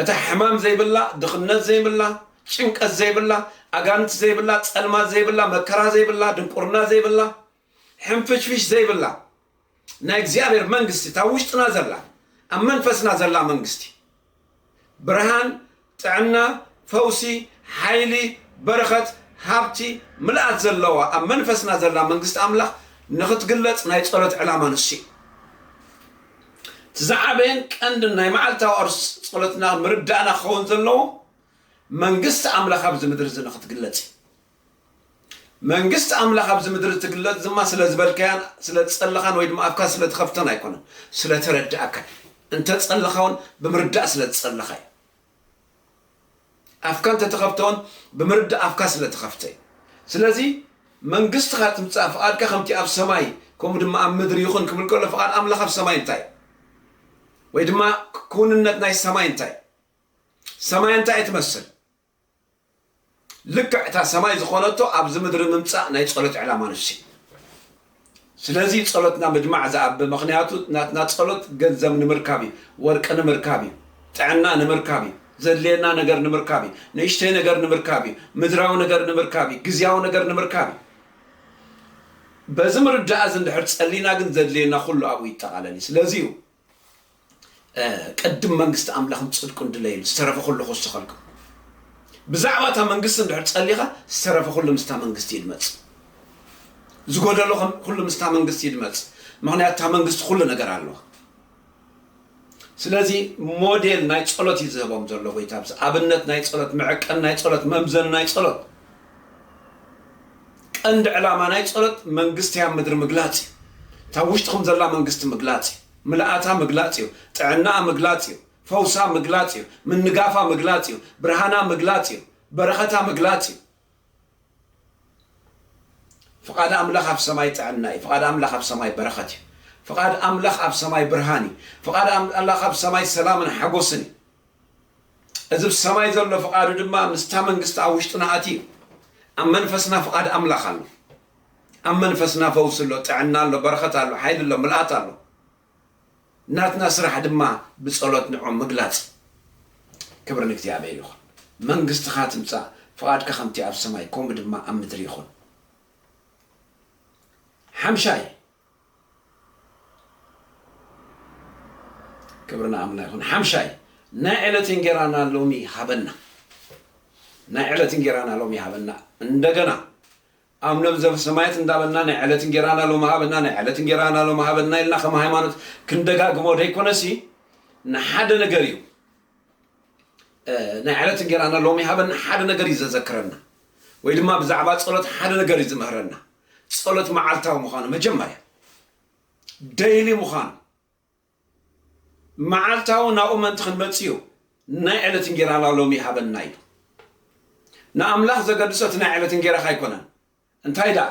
እታ ሕማም ዘይብላ ድኽነት ዘይብላ ጭንቀት ዘይብላ ኣጋንንቲ ዘይብላ ጸልማት ዘይብላ መከራ ዘይብላ ድንቁርና ዘይብላ ሕንፍሽፍሽ ዘይብላ ናይ እግዚኣብሔር መንግስቲ እታ ኣብ ውሽጥና ዘላ ኣብ መንፈስና ዘላ መንግስቲ ብርሃን ጥዕና ፈውሲ ሓይሊ በረኸት ሃብቲ ምልኣት ዘለዋ ኣብ መንፈስና ዘላ መንግስቲ ኣምላኽ ንኽትግለጽ ናይ ጸሎት ዕላማ ንሱ እዩ እቲ ዝዓበየን ቀንድን ናይ መዓልታዊ ኣርስ ጸሎትና ምርዳእና ክኸውን ዘለዎ መንግስቲ ኣምላኽ ኣብዚ ምድሪ እዚ ንኽትግለጽ እዩ መንግስቲ ኣምላኽ ኣብዚ ምድሪ እትግለጽ ድማ ስለ ዝበልካያን ስለ ዝጸለኻን ወይ ድማ ኣፍካ ስለ ትኸፍተን ኣይኮነን፣ ስለ ተረድኣካ እዩ። እንተ ጸለኻ እውን ብምርዳእ ስለ ዝጸለኻ እዩ። ኣፍካ እንተ ተኸፍተ እውን ብምርዳእ ኣፍካ ስለ ተኸፍተ እዩ። ስለዚ መንግስትኻ ትምጻእ፣ ፍቓድካ ከምቲ ኣብ ሰማይ ከምኡ ድማ ኣብ ምድሪ ይኹን ክብል ከሎ ፍቓድ ኣምላኽ ኣብ ሰማይ እንታይ እዩ? ወይ ድማ ክውንነት ናይ ሰማይ እንታይ እዩ? ሰማይ እንታይ እያ ትመስል? ልክዕ እታ ሰማይ ዝኾነቶ ኣብዚ ምድሪ ምምጻእ ናይ ጸሎት ዕላማ ንሱ'ዩ። ስለዚ ጸሎትና ምድማዕ ዝኣብ ምኽንያቱ ናትና ጸሎት ገንዘብ ንምርካብ እዩ፣ ወርቂ ንምርካብ እዩ፣ ጥዕና ንምርካብ እዩ፣ ዘድልየና ነገር ንምርካብ እዩ፣ ንእሽተይ ነገር ንምርካብ እዩ፣ ምድራዊ ነገር ንምርካብ እዩ፣ ግዝያዊ ነገር ንምርካብ እዩ። በዚ ምርዳእ'ዚ እንድሕር ጸሊና ግን ዘድልየና ኩሉ ኣብኡ ይጠቓለል እዩ። ስለዚ'ዩ ቀድም መንግስቲ ኣምላኽን ጽድቁን ድለይሉ ዝተረፈ ኩሉ ክውሰኸልኩም ብዛዕባ እታ መንግስቲ እንድሕር ጸሊኻ ዝተረፈ ኩሉ ምስታ መንግስቲ ይድመጽ ዝጎደሎ ኩሉ ምስታ መንግስቲ ይድመጽ ምክንያቱ እታ መንግስቲ ኩሉ ነገር ኣለዋ ስለዚ ሞዴል ናይ ጸሎት እዩ ዝህቦም ዘሎ ጎይታ ኣብዚ ኣብነት ናይ ጸሎት መዕቀን ናይ ጸሎት መምዘን ናይ ጸሎት ቀንዲ ዕላማ ናይ ጸሎት መንግስቲ ኣብ ምድሪ ምግላጽ እዩ። እታ ኣብ ውሽጥኹም ዘላ መንግስቲ ምግላጽ እዩ። ምልኣታ ምግላጽ እዩ። ጥዕናኣ ምግላጽ እዩ። ፈውሳ ምግላጽ እዩ። ምንጋፋ ምግላጽ እዩ። ብርሃና ምግላጽ እዩ። በረኸታ ምግላጽ እዩ። ፍቓድ ኣምላኽ ኣብ ሰማይ ጥዕና እዩ። ፍቓድ ኣምላኽ ኣብ ሰማይ በረኸት እዩ። ፍቓድ ኣምላኽ ኣብ ሰማይ ብርሃን እዩ። ፍቓድ ኣምላኽ ኣብ ሰማይ ሰላምን ሓጎስን እዩ። እዚ ብ ሰማይ ዘሎ ፍቃዱ ድማ ምስታ መንግስቲ ኣብ ውሽጥና ኣትዩ ኣብ መንፈስና ፍቃድ ኣምላኽ ኣሎ ኣብ መንፈስና ፈውሲ ኣሎ ጥዕና ኣሎ በረኸት ኣሎ ሓይሊ ኣሎ ምልኣት ኣሎ ናትና ስራሕ ድማ ብጸሎት ንዑ ምግላጽ ክብሪ ንእግዚኣብሔር ይኹን መንግስትኻ ትምጻእ ፍቃድካ ከምቲ ኣብ ሰማይ ከምኡ ድማ ኣብ ምድሪ ይኹን ሓምሻይ ክብሪ ንኣምና ይኹን ሓምሻይ ናይ ዕለት እንጌራና ሎሚ ሃበና ናይ ዕለት እንጌራና ሎሚ ሃበና እንደገና ኣምነብ ዘፍሰማየት እንዳበልና ናይ ዕለት እንጌራና ሎሚ ሃበና ናይ ዕለት እንጌራና ሎሚ ሃበና ኢልና ከም ሃይማኖት ክንደጋግሞ ደይኮነሲ ንሓደ ነገር እዩ ናይ ዕለት እንጌራና ሎሚ ሃበና ሓደ ነገር እዩ ዘዘክረና ወይ ድማ ብዛዕባ ጸሎት ሓደ ነገር እዩ ዝምህረና ጸሎት መዓልታዊ ምዃኑ መጀመርያ ደይሊ ምዃኑ መዓልታዊ ናብኡ ምእንቲ ክንመጽእ እዩ ናይ ዕለት እንጌራና ሎሚ ሃበና ኢሉ ንኣምላኽ ዘገድሶ እቲ ናይ ዕለት እንጌራኻ ኣይኮነን እንታይ ደኣ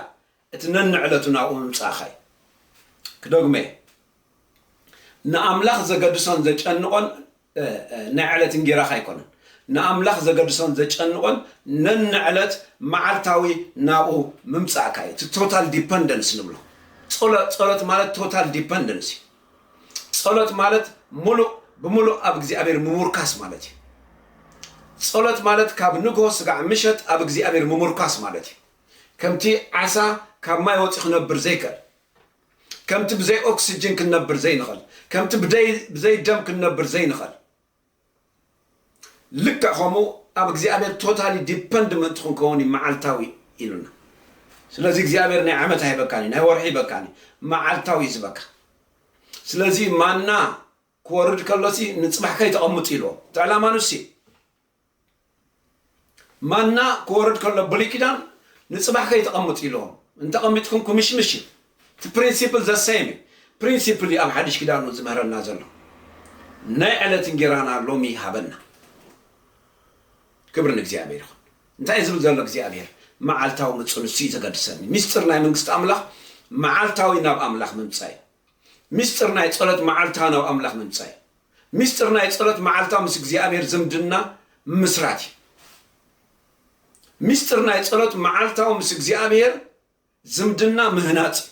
እቲ ነንዕለቱ ናብኡ ምምጻእኻ እዩ ክደግመ ንኣምላኽ ዘገድሶን ዘጨንቖን ናይ ዕለት እንጌራኻ ኣይኮነን ንኣምላኽ ዘገድሶን ዘጨንቆን ነንዕለት መዓልታዊ ናብኡ ምምጻእካ እዩ እቲ ቶታል ዲፐንደንስ ንብሎ ጸሎ ጸሎት ማለት ቶታል ዲፐንደንስ እዩ ጸሎት ማለት ሙሉእ ብምሉእ ኣብ እግዚኣብሔር ምሙርካስ ማለት እዩ ጸሎት ማለት ካብ ንግሆ ስጋዕ ምሸት ኣብ እግዚኣብሔር ምሙርካስ ማለት እዩ ከምቲ ዓሳ ካብ ማይ ወፂ ክነብር ዘይክእል ከምቲ ብዘይ ኦክስጅን ክንነብር ዘይንኸል ከምቲ ብዘይ ደም ክንነብር ዘይንኸል ልክዕ ከምኡ ኣብ እግዚኣብሔር ቶታሊ ዲፐንድ ምእንቲ ክንከውን እዩ መዓልታዊ ኢሉና ስለዚ እግዚኣብሔር ናይ ዓመት ኣይበካኒ ናይ ወርሒ ይበካኒ መዓልታዊ እዩ ዝበካ ስለዚ ማና ክወርድ ከሎሲ ንፅባሕ ከይተቐምጡ ኢልዎ እቲ ዕላማ ንሱ እዩ ማና ክወርድ ከሎ ብሉይ ኪዳን ንጽባሕ ከይተቐምጡ ኢልዎም እንተቐሚጥኩም ክምሽምሽ እዩ እቲ ፕሪንሲፕል ዘሰየም እዩ ፕሪንሲፕል እዩ ኣብ ሓድሽ ኪዳን እውን ዝምህረና ዘሎ ናይ ዕለት እንጌራና ሎሚ ይሃበና ክብሪ ንእግዚኣብሔር ይኹን እንታይ እዩ ዝብል ዘሎ እግዚኣብሔር መዓልታዊ ምፁ ንሱ እዩ ዘገድሰኒ ሚስጥር ናይ መንግስቲ ኣምላኽ መዓልታዊ ናብ ኣምላኽ ምምፃእ እዩ ሚስጥር ናይ ፀሎት መዓልታዊ ናብ ኣምላኽ ምምፃእ እዩ ሚስጥር ናይ ጸሎት መዓልታ ምስ እግዚኣብሔር ዝምድና ምምስራት እዩ። ሚስጥር ናይ ጸሎት መዓልታዊ ምስ እግዚኣብሔር ዝምድና ምህናጽ እዩ።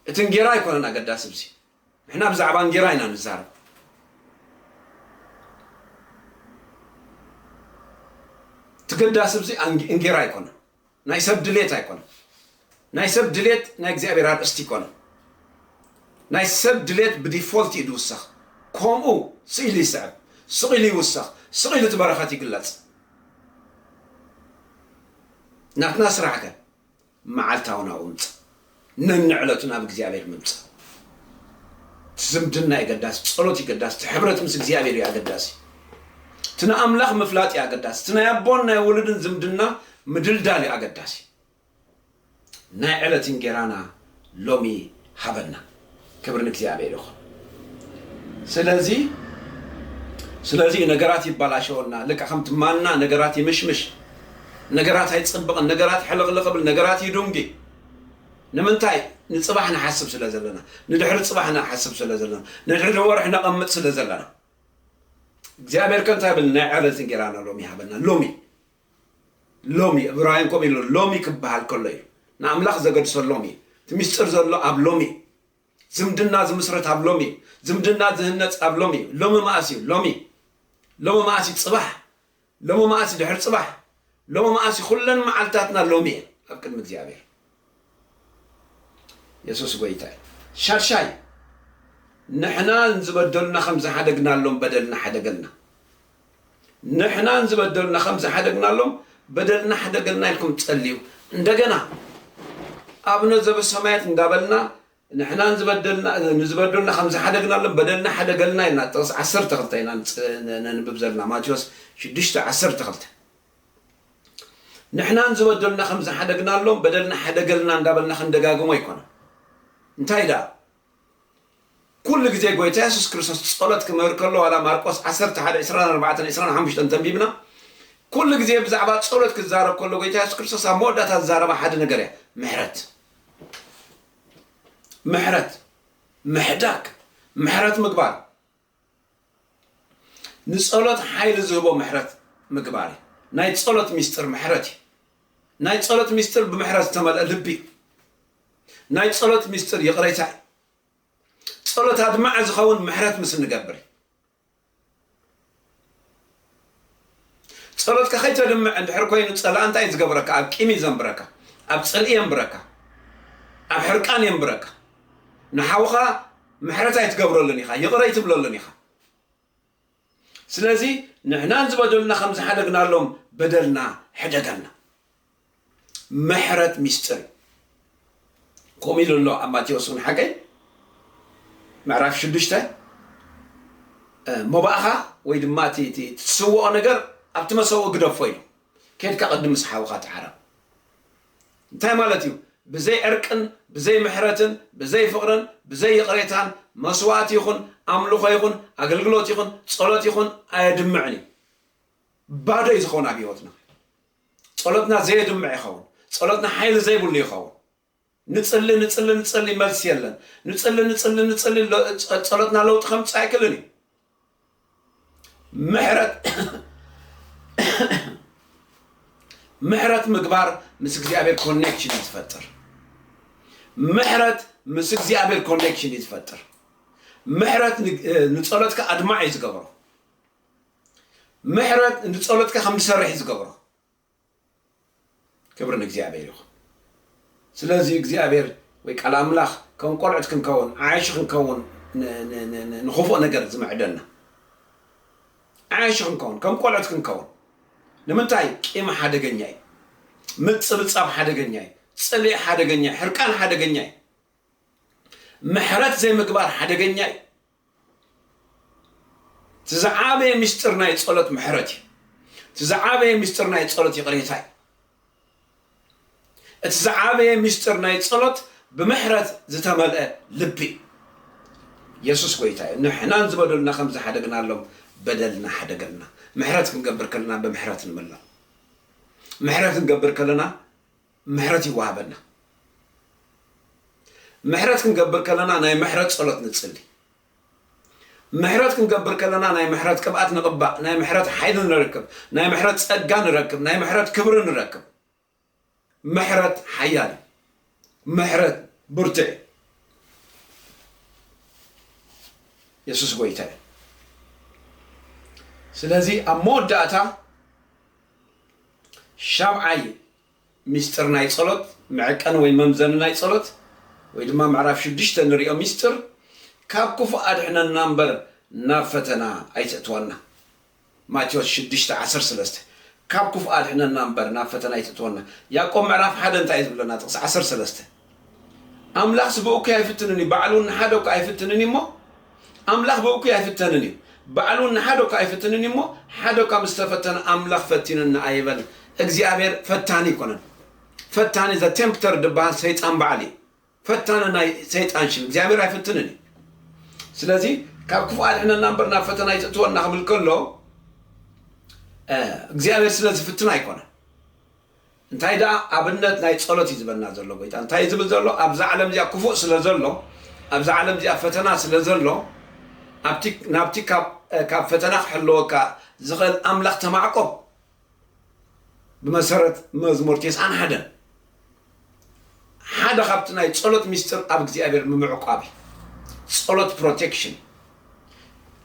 እቲ እንጌራ ኣይኮነን ኣገዳሲ ብዚ ንሕና ብዛዕባ እንጌራ ኢና ንዛረብ ትገዳሲ ብዚ እንጌራ ኣይኮነን ናይ ሰብ ድሌት ኣይኮነን ናይ ሰብ ድሌት ናይ እግዚኣብሔር ኣርእስቲ ኣይኮነን ናይ ሰብ ድሌት ብዲፎልት እዩ ዝውሰኽ ከምኡ ስኢሉ ይስዕብ ስቂሉ ይውሰኽ ስቂሉ እቲ በረኸት ይግለጽ ናትና ስራሕ ከ መዓልታዊ ናብኡ ምጽእ ነንዕለቱ ናብ እግዚኣብሔር ምምጻእ እቲ ዝምድና እዩ ኣገዳሲ ጸሎት እዩ ኣገዳሲ እቲ ሕብረት ምስ እግዚኣብሔር እዩ ኣገዳሲ እቲ ንኣምላኽ ምፍላጥ እዩ ኣገዳሲ እቲ ናይ ኣቦን ናይ ውሉድን ዝምድና ምድልዳል እዩ ኣገዳሲ ናይ ዕለት እንጌራና ሎሚ ሃበና ክብሪ ንእግዚኣብሔር ይኹን። ስለዚ ስለዚ እዩ ነገራት ይባላሸወና ልካ ከምቲ ማና ነገራት ይምሽምሽ ነገራት ኣይፅብቕን ነገራት ሕልቕልቕ ብል ነገራት ይዱንጊ ንምንታይ ንፅባሕ ንሓስብ ስለ ዘለና ንድሕሪ ፅባሕ ንሓስብ ስለ ዘለና ንድሕሪ ወርሒ ነቐምጥ ስለ ዘለና እግዚኣብሔር ከ እንታይ ብል ናይ ዕረትን ጌራና ሎሚ ሃበና ሎሚ ሎሚ፣ ዕብራውያን ከምኡ ኢሉ ኣሎ፣ ሎሚ ክበሃል ከሎ እዩ ንኣምላኽ ዘገድሶ፣ ሎሚ እዩ። እቲ ምስጢር ዘሎ ኣብ ሎሚ እዩ። ዝምድና ዝምስረት ኣብ ሎሚ እዩ። ዝምድና ዝህነጽ ኣብ ሎሚ እዩ። ሎሚ መኣስ እዩ? ሎሚ። ሎሚ መኣስ እዩ? ጽባሕ። ሎሚ መኣስ እዩ? ድሕሪ ጽባሕ። ሎሚ መኣስ እዩ? ኩለን መዓልትታትና ሎሚ እየን ኣብ ቅድሚ እግዚኣብሔር። የሱስ ጎይታ እዩ። ሻድሻይ፣ ንሕና ንዝበደሉና ኸም ዝሓደግናሎም በደልና ሓደገልና። ንሕና ንዝበደሉና ኸም ዝሓደግናሎም በደልና ሓደገልና ኢልኩም ጸልዩ። እንደገና ኣብነ ዘበሰማያት እንዳበልና ንሕና ንዝበደሉና ከም ዝሓደግናሎም በደልና ሓደገልና ኢልና ጥቕስ ዓሰርተ ክልተ ኢና ነንብብ ዘለና ማቴዎስ ሽዱሽተ ዓሰርተ ክልተ ንሕናን ዝበደሉና ከም ዝሓደግናሎም በደልና ሓደገልና እንዳበልና ክንደጋግሞ ኣይኮነን። እንታይ ደኣ ኩሉ ግዜ ጎይታ የሱስ ክርስቶስ ጸሎት ክምህር ከሎ ዋላ ማርቆስ ዓሰርተ ሓደ ዕስራን ኣርባዕተን ዕስራን ሓሙሽተን እንተንቢብና ኩሉ ግዜ ብዛዕባ ጸሎት ክዛረብ ከሎ ጎይታ የሱስ ክርስቶስ ኣብ መወዳእታ ዝዛረባ ሓደ ነገር እያ ምሕረት ምሕረት ምሕዳግ ምሕረት ምግባር ንጸሎት ሓይሊ ዝህቦ ምሕረት ምግባር እዩ። ናይ ጸሎት ሚስጥር ምሕረት እዩ። ናይ ጸሎት ሚስጥር ብምሕረት ዝተመልአ ልቢ እዩ። ናይ ጸሎት ሚስጥር ይቕሬታ እዩ። ጸሎት ኣድማዒ ዝኸውን ምሕረት ምስ እንገብር እዩ። ጸሎትካ ከይተድምዕ እንድሕር ኮይኑ ጸላኢ እንታይ እዩ ዝገብረካ ኣብ ቂም እዩ ዘንብረካ ኣብ ጽልኢ የንብረካ ኣብ ሕርቃን የንብረካ ንሓውኻ ምሕረት ኣይትገብረሉን ኢኻ ይቕረ ኣይትብለሉን ኢኻ ስለዚ ንሕናን ዝበደሉና ከም ዝሓደግናሎም በደልና ሕደገልና ምሕረት ሚስጥር እዩ ከምኡ ኢሉ ኣሎ ኣብ ማቴዎስ እውን ሓቀይ ምዕራፍ ሽዱሽተ መባእኻ ወይ ድማ እቲ ትስውኦ ነገር ኣብቲ መሰዊ ግደፎ ኢሉ ኬድካ ቅድም ምስ ሓውኻ ተዓረቕ እንታይ ማለት እዩ ብዘይ ዕርቅን ብዘይ ምሕረትን ብዘይ ፍቕርን ብዘይ ይቕሬታን መስዋእቲ ይኹን ኣምልኾ ይኹን ኣገልግሎት ይኹን ጸሎት ይኹን ኣየድምዕን እዩ ባዶ እዩ ዝኸውን ኣብ ህይወትና ጸሎትና ዘየድምዕ ይኸውን። ጸሎትና ሓይሊ ዘይብሉ ይኸውን። ንጽሊ ንጽሊ ንጽሊ መልሲ የለን። ንጽሊ ንጽሊ ንጽሊ ጸሎትና ለውጢ ከምጽእ ኣይክልን እዩ። ምሕረት ምሕረት ምግባር ምስ እግዚኣብሔር ኮኔክሽን እዩ ዝፈጥር። ምሕረት ምስ እግዚኣብሔር ኮኔክሽን እዩ ዝፈጥር። ምሕረት ንጸሎትካ ኣድማዕ እዩ ዝገበሮ። ምሕረት እንዲ ጸሎትካ ከም ዝሰርሕ እዩ ዝገብሮ ክብሪ ንእግዚኣብሔር ይኹን ስለዚ እግዚኣብሔር ወይ ቃል ኣምላኽ ከም ቆልዑት ክንከውን ዓያሹ ክንከውን ንክፉእ ነገር ዝምዕደና ዓያሹ ክንከውን ከም ቆልዑት ክንከውን ንምንታይ ቂም ሓደገኛ እዩ ምጽብጻብ ሓደገኛ እዩ ጽልኢ ሓደገኛ እዩ ሕርቃን ሓደገኛ እዩ ምሕረት ዘይምግባር ሓደገኛ እዩ እቲ ዝዓበየ ምስጢር ናይ ጸሎት ምሕረት እዩ። እቲ ዝዓበየ ምስጢር ናይ ጸሎት ይቕሬታ እዩ። እቲ ዝዓበየ ምስጢር ናይ ጸሎት ብምሕረት ዝተመልአ ልቢ እዩ። የሱስ ጎይታ እዩ ንሕናን ዝበደሉና ከም ዝሓደግናሎም በደልና ሓደገልና ምሕረት ክንገብር ከለና ብምሕረት ንምላእ ምሕረት ክንገብር ከለና ምሕረት ይወሃበና። ምሕረት ክንገብር ከለና ናይ ምሕረት ጸሎት ንጽሊ። ምሕረት ክንገብር ከለና ናይ ምሕረት ቅብኣት ንቕባእ፣ ናይ ምሕረት ሓይሊ ንረክብ፣ ናይ ምሕረት ጸጋ ንረክብ፣ ናይ ምሕረት ክብሪ ንረክብ። ምሕረት ሓያል እዩ። ምሕረት ብርቱዕ እዩ። የሱስ ጎይታ እዩ። ስለዚ ኣብ መወዳእታ ሻብዓይ ሚስጥር ናይ ጸሎት፣ መዐቀኒ ወይ መምዘኒ ናይ ጸሎት፣ ወይ ድማ ምዕራፍ ሽዱሽተ ንሪኦ ሚስጥር፣ ካብ ክፉእ ኣድሕነና እምበር ናብ ፈተና ኣይተእትወና። ማቴዎስ ሽዱሽተ ዓሰርተ ሰለስተ፣ ካብ ክፉእ ኣድሕነና እምበር ናብ ፈተና ኣይተእትወና። ያእቆብ ምዕራፍ ሓደ እንታይ እዩ ዝብለና ጥቕሲ ዓሰርተ ሰለስተ? ኣምላኽ ስብኡኪ ኣይፍትንን እዩ ባዕሉ ንሓደ እኳ ኣይፍትንን እዩሞ ኣምላኽ ብእኩይ ኣይፍተንን እዩ ባዕሉ ንሓደ እኳ ኣይፍትንን እዩሞ ሓደ እኳ ምስ ተፈተነ ኣምላኽ ፈቲኑና ኣይበል እግዚኣብሔር ፈታኒ ኣይኮነን ፈታኒ ዘ ቴምፕተር ድበሃል ሰይጣን በዓል እዩ ፈታኒ ናይ ሰይጣን ሽም እግዚኣብሔር ኣይፍትንን እዩ ስለዚ ካብ ክፉእ ኣድሕነና እምበር ናብ ፈተና ይትእትወና ክብል ከሎ እግዚኣብሔር ስለ ዝፍትና ኣይኮነን እንታይ ደኣ ኣብነት ናይ ጸሎት እዩ ዝበና ዘሎ ጎይታ እንታይ እዩ ዝብል ዘሎ ኣብዛ ዓለም እዚኣ ክፉእ ስለ ዘሎ ኣብዛ ዓለም እዚኣ ፈተና ስለ ዘሎ ኣብቲ ናብቲ ካብ ካብ ፈተና ክሕልወካ ዝኽእል ኣምላኽ ተማዕቆብ ብመሰረት መዝሙር ቴስዓን ሓደን ሓደ ካብቲ ናይ ጸሎት ሚስጥር ኣብ እግዚኣብሔር ምምዕቋብ እዩ ጸሎት ፕሮቴክሽን እዩ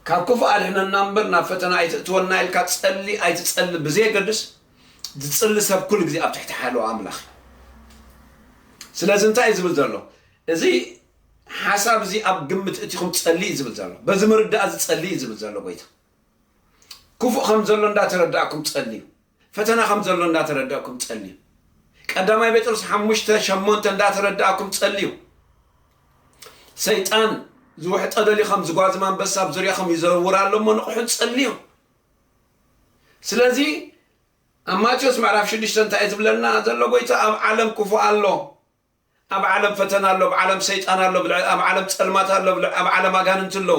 ካብ ክፉእ ኣድሕነና እምበር ናብ ፈተና ኣይትእትወና ኢልካ ጸሊ ኣይትጸሊ ብዘየገድስ ዝጽሊ ሰብ ኩሉ ግዜ ኣብ ትሕቲ ሓለዋ ኣምላኽ እዩ። ስለዚ እንታይ እዩ ዝብል ዘሎ? እዚ ሓሳብ እዚ ኣብ ግምት እቲኹም ጸሊ እዩ ዝብል ዘሎ። በዚ ምርዳእ እዚ ጸሊ እዩ ዝብል ዘሎ ጎይታ። ክፉእ ከም ዘሎ እንዳተረዳእኩም ጸልዩ። ፈተና ከም ዘሎ እንዳተረዳእኩም ጸልዩ። ቀዳማይ ጴጥሮስ ሓሙሽተ ሸሞንተ እንዳተረዳእኩም ጸልዩ። ሰይጣን ዝውሕጠ ደልዩ ከም ዝጓዝም ኣንበሳ ኣብ ዙርያኹም ይዘውር ኣሎ እሞ ንቕሑን ጸልዩ። ስለዚ ኣብ ማቴዎስ ምዕራፍ ሽዱሽተ እንታይ እዩ ዝብለና ዘሎ ጎይታ ኣብ ዓለም ክፉእ ኣሎ ኣብ ዓለም ፈተና ኣሎ ኣብ ዓለም ሰይጣን ኣሎ ብልዕ- ኣብ ዓለም ጸልማት ኣሎ ብልዕ- ኣብ ዓለም ኣጋንንቲ ኣሎ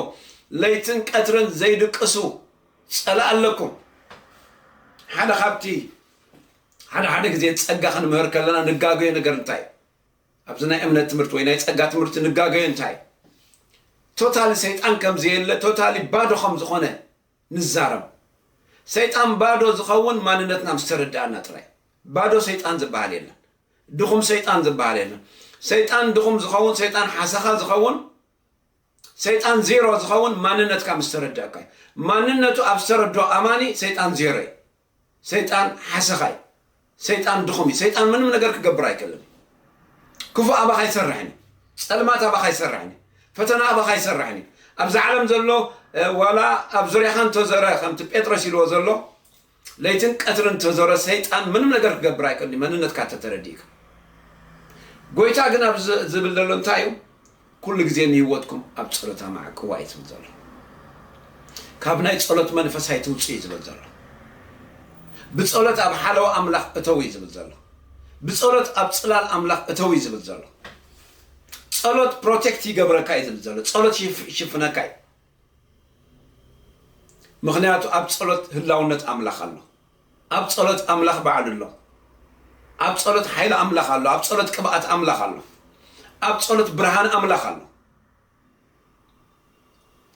ለይትን ቀትርን ዘይድቅሱ ጸላእ ኣለኩም ሓደ ካብቲ ሓደ ሓደ ግዜ ጸጋ ክንምህር ከለና ንጋገዮ ነገር እንታይ እዩ? ኣብዚ ናይ እምነት ትምህርቲ ወይ ናይ ጸጋ ትምህርቲ ንጋገዮ እንታይ እዩ? ቶታሊ ሰይጣን ከም ዘየለ ቶታሊ ባዶ ከም ዝኾነ ንዛረብ ሰይጣን ባዶ ዝኸውን ማንነትና ምስ ተረዳእና ጥራይ ባዶ ሰይጣን ዝበሃል የለን ድኹም ሰይጣን ዝበሃል የለን ሰይጣን ድኹም ዝኸውን ሰይጣን ሓሰኻ ዝኸውን ሰይጣን ዜሮ ዝኸውን ማንነትካ ምስ ተረዳእካ እዩ ማንነቱ ኣብ ዝተረድኦ ኣማኒ ሰይጣን ዜሮ እዩ ሰይጣን ሓሰኻ እዩ ሰይጣን ድኹም እዩ ሰይጣን ምንም ነገር ክገብር ኣይክእልን እዩ ክፉእ ኣባኻ ይሰርሕን እዩ ጸልማት ኣባኻ ይሰርሕን እዩ ፈተና ኣባኻ ይሰርሕን እዩ ኣብዚ ዓለም ዘሎ ዋላ ኣብ ዙርያኻ እንተዘረ ከምቲ ጴጥሮስ ኢልዎ ዘሎ ለይትን ቀትርን እንተዘረ ሰይጣን ምንም ነገር ክገብር ኣይክእልን እዩ መንነትካ ተተረዲእካ ጎይታ ግን ኣብ ዝብል ዘሎ እንታይ እዩ ኩሉ ግዜ ንህይወትኩም ኣብ ጸሎት ኣማዕቅዋ እዩ ዝብል ዘሎ። ካብ ናይ ጸሎት መንፈስ ኣይትውጽኡ እዩ ዝብል ዘሎ። ብጸሎት ኣብ ሓለዋ ኣምላኽ እተው እዩ ዝብል ዘሎ። ብጸሎት ኣብ ጽላል ኣምላኽ እተው እዩ ዝብል ዘሎ። ጸሎት ፕሮቴክት ይገብረካ እዩ ዝብል ዘሎ። ጸሎት ይሽፍነካ እዩ። ምክንያቱ ኣብ ጸሎት ህላውነት ኣምላኽ ኣሎ። ኣብ ጸሎት ኣምላኽ ባዕሉ ኣሎ። ኣብ ጸሎት ሓይሊ ኣምላኽ ኣሎ። ኣብ ጸሎት ቅብኣት ኣምላኽ ኣሎ። ኣብ ጸሎት ብርሃን ኣምላኽ ኣሎ።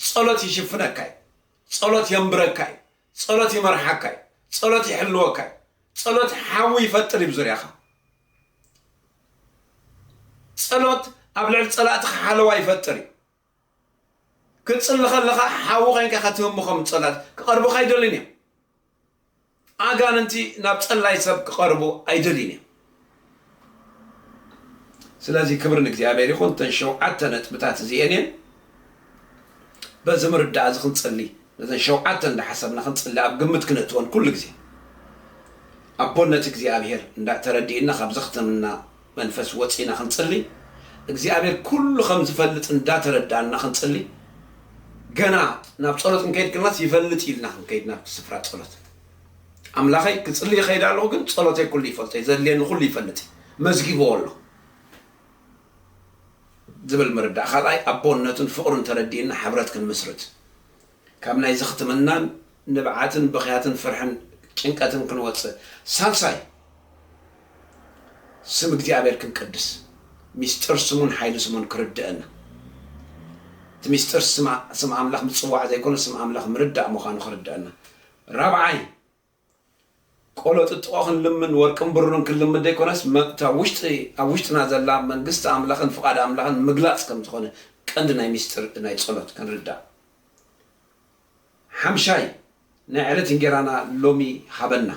ጸሎት ይሽፍነካ እዩ። ጸሎት የንብረካ እዩ። ጸሎት ይመርሓካ እዩ። ጸሎት ይሕልወካ እዩ። ጸሎት ሓዊ ይፈጥር እዩ ብዙርያኻ። ጸሎት ኣብ ልዕሊ ጸላእትኻ ሓለዋ ይፈጥር እዩ። ክትጽሊ ከለኻ ሓዊ ኮይንካ ኢኻ ትህሙ ከም ጸላእቲ ክቐርቡኻ ኣይደልዩን እዮም። ኣጋንንቲ ናብ ጸላይ ሰብ ክቐርቡ ኣይደልዩን እዮም። ስለዚ ክብሪ ንእግዚኣብሔር ይኹን እተን ሸውዓተ ነጥብታት እዚኤን እየን። በዚ ምርዳእ እዚ ክንጽሊ ነዘን ሸውዓተ እንዳሓሰብና ክንጽሊ ኣብ ግምት ክነእትወን ኩሉ ግዜ ኣቦነት እግዚኣብሔር እንዳ ተረዲእና ካብ ዘኽተምና መንፈስ ወጺእና ክንጽሊ እግዚኣብሔር ኩሉ ከም ዝፈልጥ እንዳተረዳእና ክንጽሊ ገና ናብ ጸሎት ክንከይድ ክናስ ይፈልጥ ኢልና ክንከይድ ናብቲ ስፍራ ጸሎት ኣምላኸይ ክጽሊ ይኸይድ ኣለኹ ግን ጸሎተይ ኩሉ ይፈልጦ ዘድልየኒ ኩሉ ይፈልጥ መዝጊብዎ ኣሎ ዝብል ምርዳእ ካልኣይ ኣቦነቱን ፍቕሩን ተረዲእና ሕብረት ክንምስርት ካብ ናይ ዝኽትምናን ንብዓትን ብኽያትን ፍርሕን ጭንቀትን ክንወጽእ። ሳልሳይ፣ ስም እግዚኣብሔር ክንቅድስ፣ ሚስጥር ስሙን ሓይሊ ስሙን ክርደእና። እቲ ሚስጥር ስም ኣምላኽ ምጽዋዕ ዘይኮነ ስም ኣምላኽ ምርዳእ ምዃኑ ክርደእና። ራብዓይ፣ ቆሎ ጥጥቖ ክንልምን ወርቅን ብሩርን ክንልምን ዘይኮነስ መብታ ውሽጢ ኣብ ውሽጥና ዘላ መንግስቲ ኣምላኽን ፍቓድ ኣምላኽን ምግላጽ ከም ዝኾነ ቀንዲ ናይ ምስጢር ናይ ጸሎት ክንርዳእ ሓምሻይ ናይ ዕለት እንጌራና ሎሚ ሃበና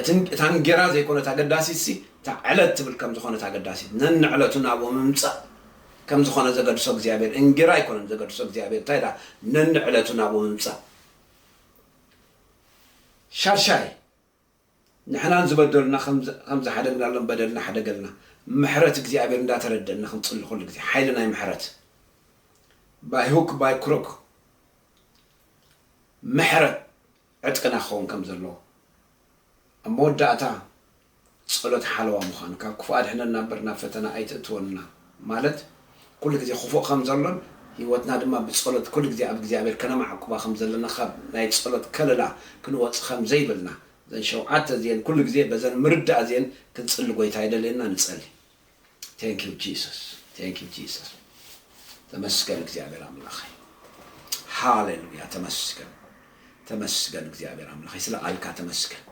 እቲ እታ እንጌራ ዘይኮነት ኣገዳሲት ሲ እታ ዕለት ትብል ከም ዝኾነት ኣገዳሲት ነንዕለቱ ናብኡ ምምጻእ ከም ዝኾነ ዘገድሶ እግዚኣብሔር እንጌራ ኣይኮነን ዘገድሶ እግዚኣብሔር እንታይ ዳ ነንዕለቱ ናብኡ ምምጻእ ሻድሻይ፣ ንሕናን ዝበደሉና ከም ዝሓደግናሎም በደልና ሕደገልና፣ ምሕረት እግዚኣብሔር እንዳተረደእና ክንጽሊ ኩሉ ግዜ፣ ሓይሊ ናይ ምሕረት፣ By hook by crook፣ ምሕረት ዕጥቅና ክኸውን ከም ዘለዎ፣ ኣብ መወዳእታ ጸሎት ሓለዋ ምዃን ካብ ክፉእ ኣድሕነና እምበር ናብ ፈተና ኣይተእትወና ማለት ኩሉ ግዜ ክፉእ ከም ዘሎን ህይወትና ድማ ብጸሎት ኩሉ ግዜ ኣብ እግዚኣብሔር ከነማዕቁባ ከም ዘለና ካብ ናይ ጸሎት ከለላ ክንወጽእ ከም ዘይብልና እዘን ሸውዓተ እዚኤን ኩሉ ግዜ በዘን ምርዳእ እዚኤን ክንጽሊ ጎይታ ይደልየና ንጸሊ። Thank you Jesus Thank you Jesus ተመስገን እግዚኣብሔር ኣምላኸይ ሃሌሉያ ተመስገን ተመስገን እግዚኣብሔር ኣምላኸይ ስለ ቃልካ ተመስገን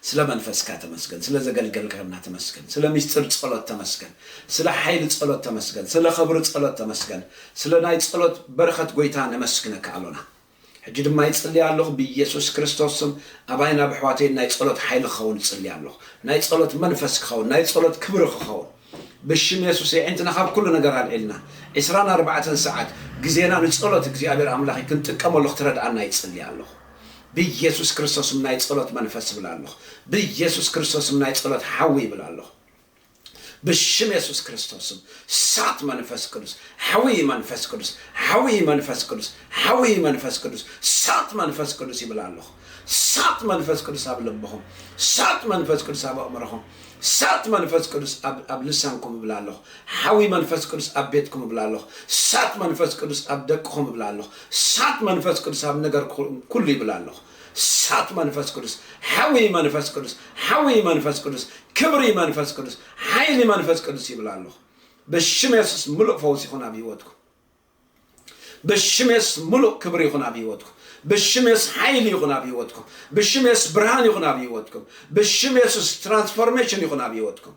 ስለ መንፈስካ ተመስገን ስለ ዘገልገልካና ተመስገን ስለ ምስጢር ጸሎት ተመስገን ስለ ሓይሊ ጸሎት ተመስገን ስለ ኸብሪ ጸሎት ተመስገን ስለ ናይ ጸሎት በረኸት ጎይታ ነመስግነካ ኣሎና ሕጂ ድማ ይጽሊ ኣሎኹ ብየሱስ ክርስቶስ ስም ኣባይን ኣብ ኣሕዋተይን ናይ ጸሎት ሓይሊ ክኸውን እጽሊ ኣሎኹ ናይ ጸሎት መንፈስ ክኸውን ናይ ጸሎት ክብሪ ክኸውን ብሽም የሱስ የዒንትና ካብ ኩሉ ነገር ኣልዒልና ዕስራን ኣርባዕተን ሰዓት ግዜና ንጸሎት እግዚኣብሔር ኣምላኸይ ክንጥቀመሉ ክትረድኣና ይጽሊ ኣሎኹ ብየሱስ ክርስቶስ ስም ናይ ጸሎት መንፈስ ይብል ኣሎኹ ብየሱስ ክርስቶስ ስም ናይ ጸሎት ሓዊ ይብል ኣሎኹ ብሽም የሱስ ክርስቶስ ስም ሳት መንፈስ ቅዱስ ሓዊ መንፈስ ቅዱስ ሓዊ መንፈስ ቅዱስ ሓዊ መንፈስ ቅዱስ ሳት መንፈስ ቅዱስ ይብል ኣለኹ ሳት መንፈስ ቅዱስ ኣብ ልብኹም ሳት መንፈስ ቅዱስ ኣብ ኣእምሮኹም ሳት መንፈስ ቅዱስ ኣብ- ኣብ ልሳንኩም እብላ ኣለኹ ሓዊ መንፈስ ቅዱስ ኣብ ቤትኩም እብላ ኣለኹ ሳት መንፈስ ቅዱስ ኣብ ደቅኹም እብላ ኣለኹ ሳት መንፈስ ቅዱስ ኣብ ነገር ኩ- ኩሉ ይብላ ኣለኹ እሳት መንፈስ ቅዱስ ሓዊ መንፈስ ቅዱስ ሓዊ መንፈስ ቅዱስ ክብሪ መንፈስ ቅዱስ ሓይሊ መንፈስ ቅዱስ ይብል ኣለኹ ብሽም የሱስ ምሉእ ፈውስ ይኹን ኣብ ህይወትኩም ብሽም የሱስ ምሉእ ክብሪ ይኹን ኣብ ህይወትኩም ብሽም የሱስ ሓይሊ ይኹን ኣብ ህይወትኩም ብሽም የሱስ ብርሃን ይኹን ኣብ ህይወትኩም ብሽም የሱስ ትራንስፎርሜሽን ይኹን ኣብ ህይወትኩም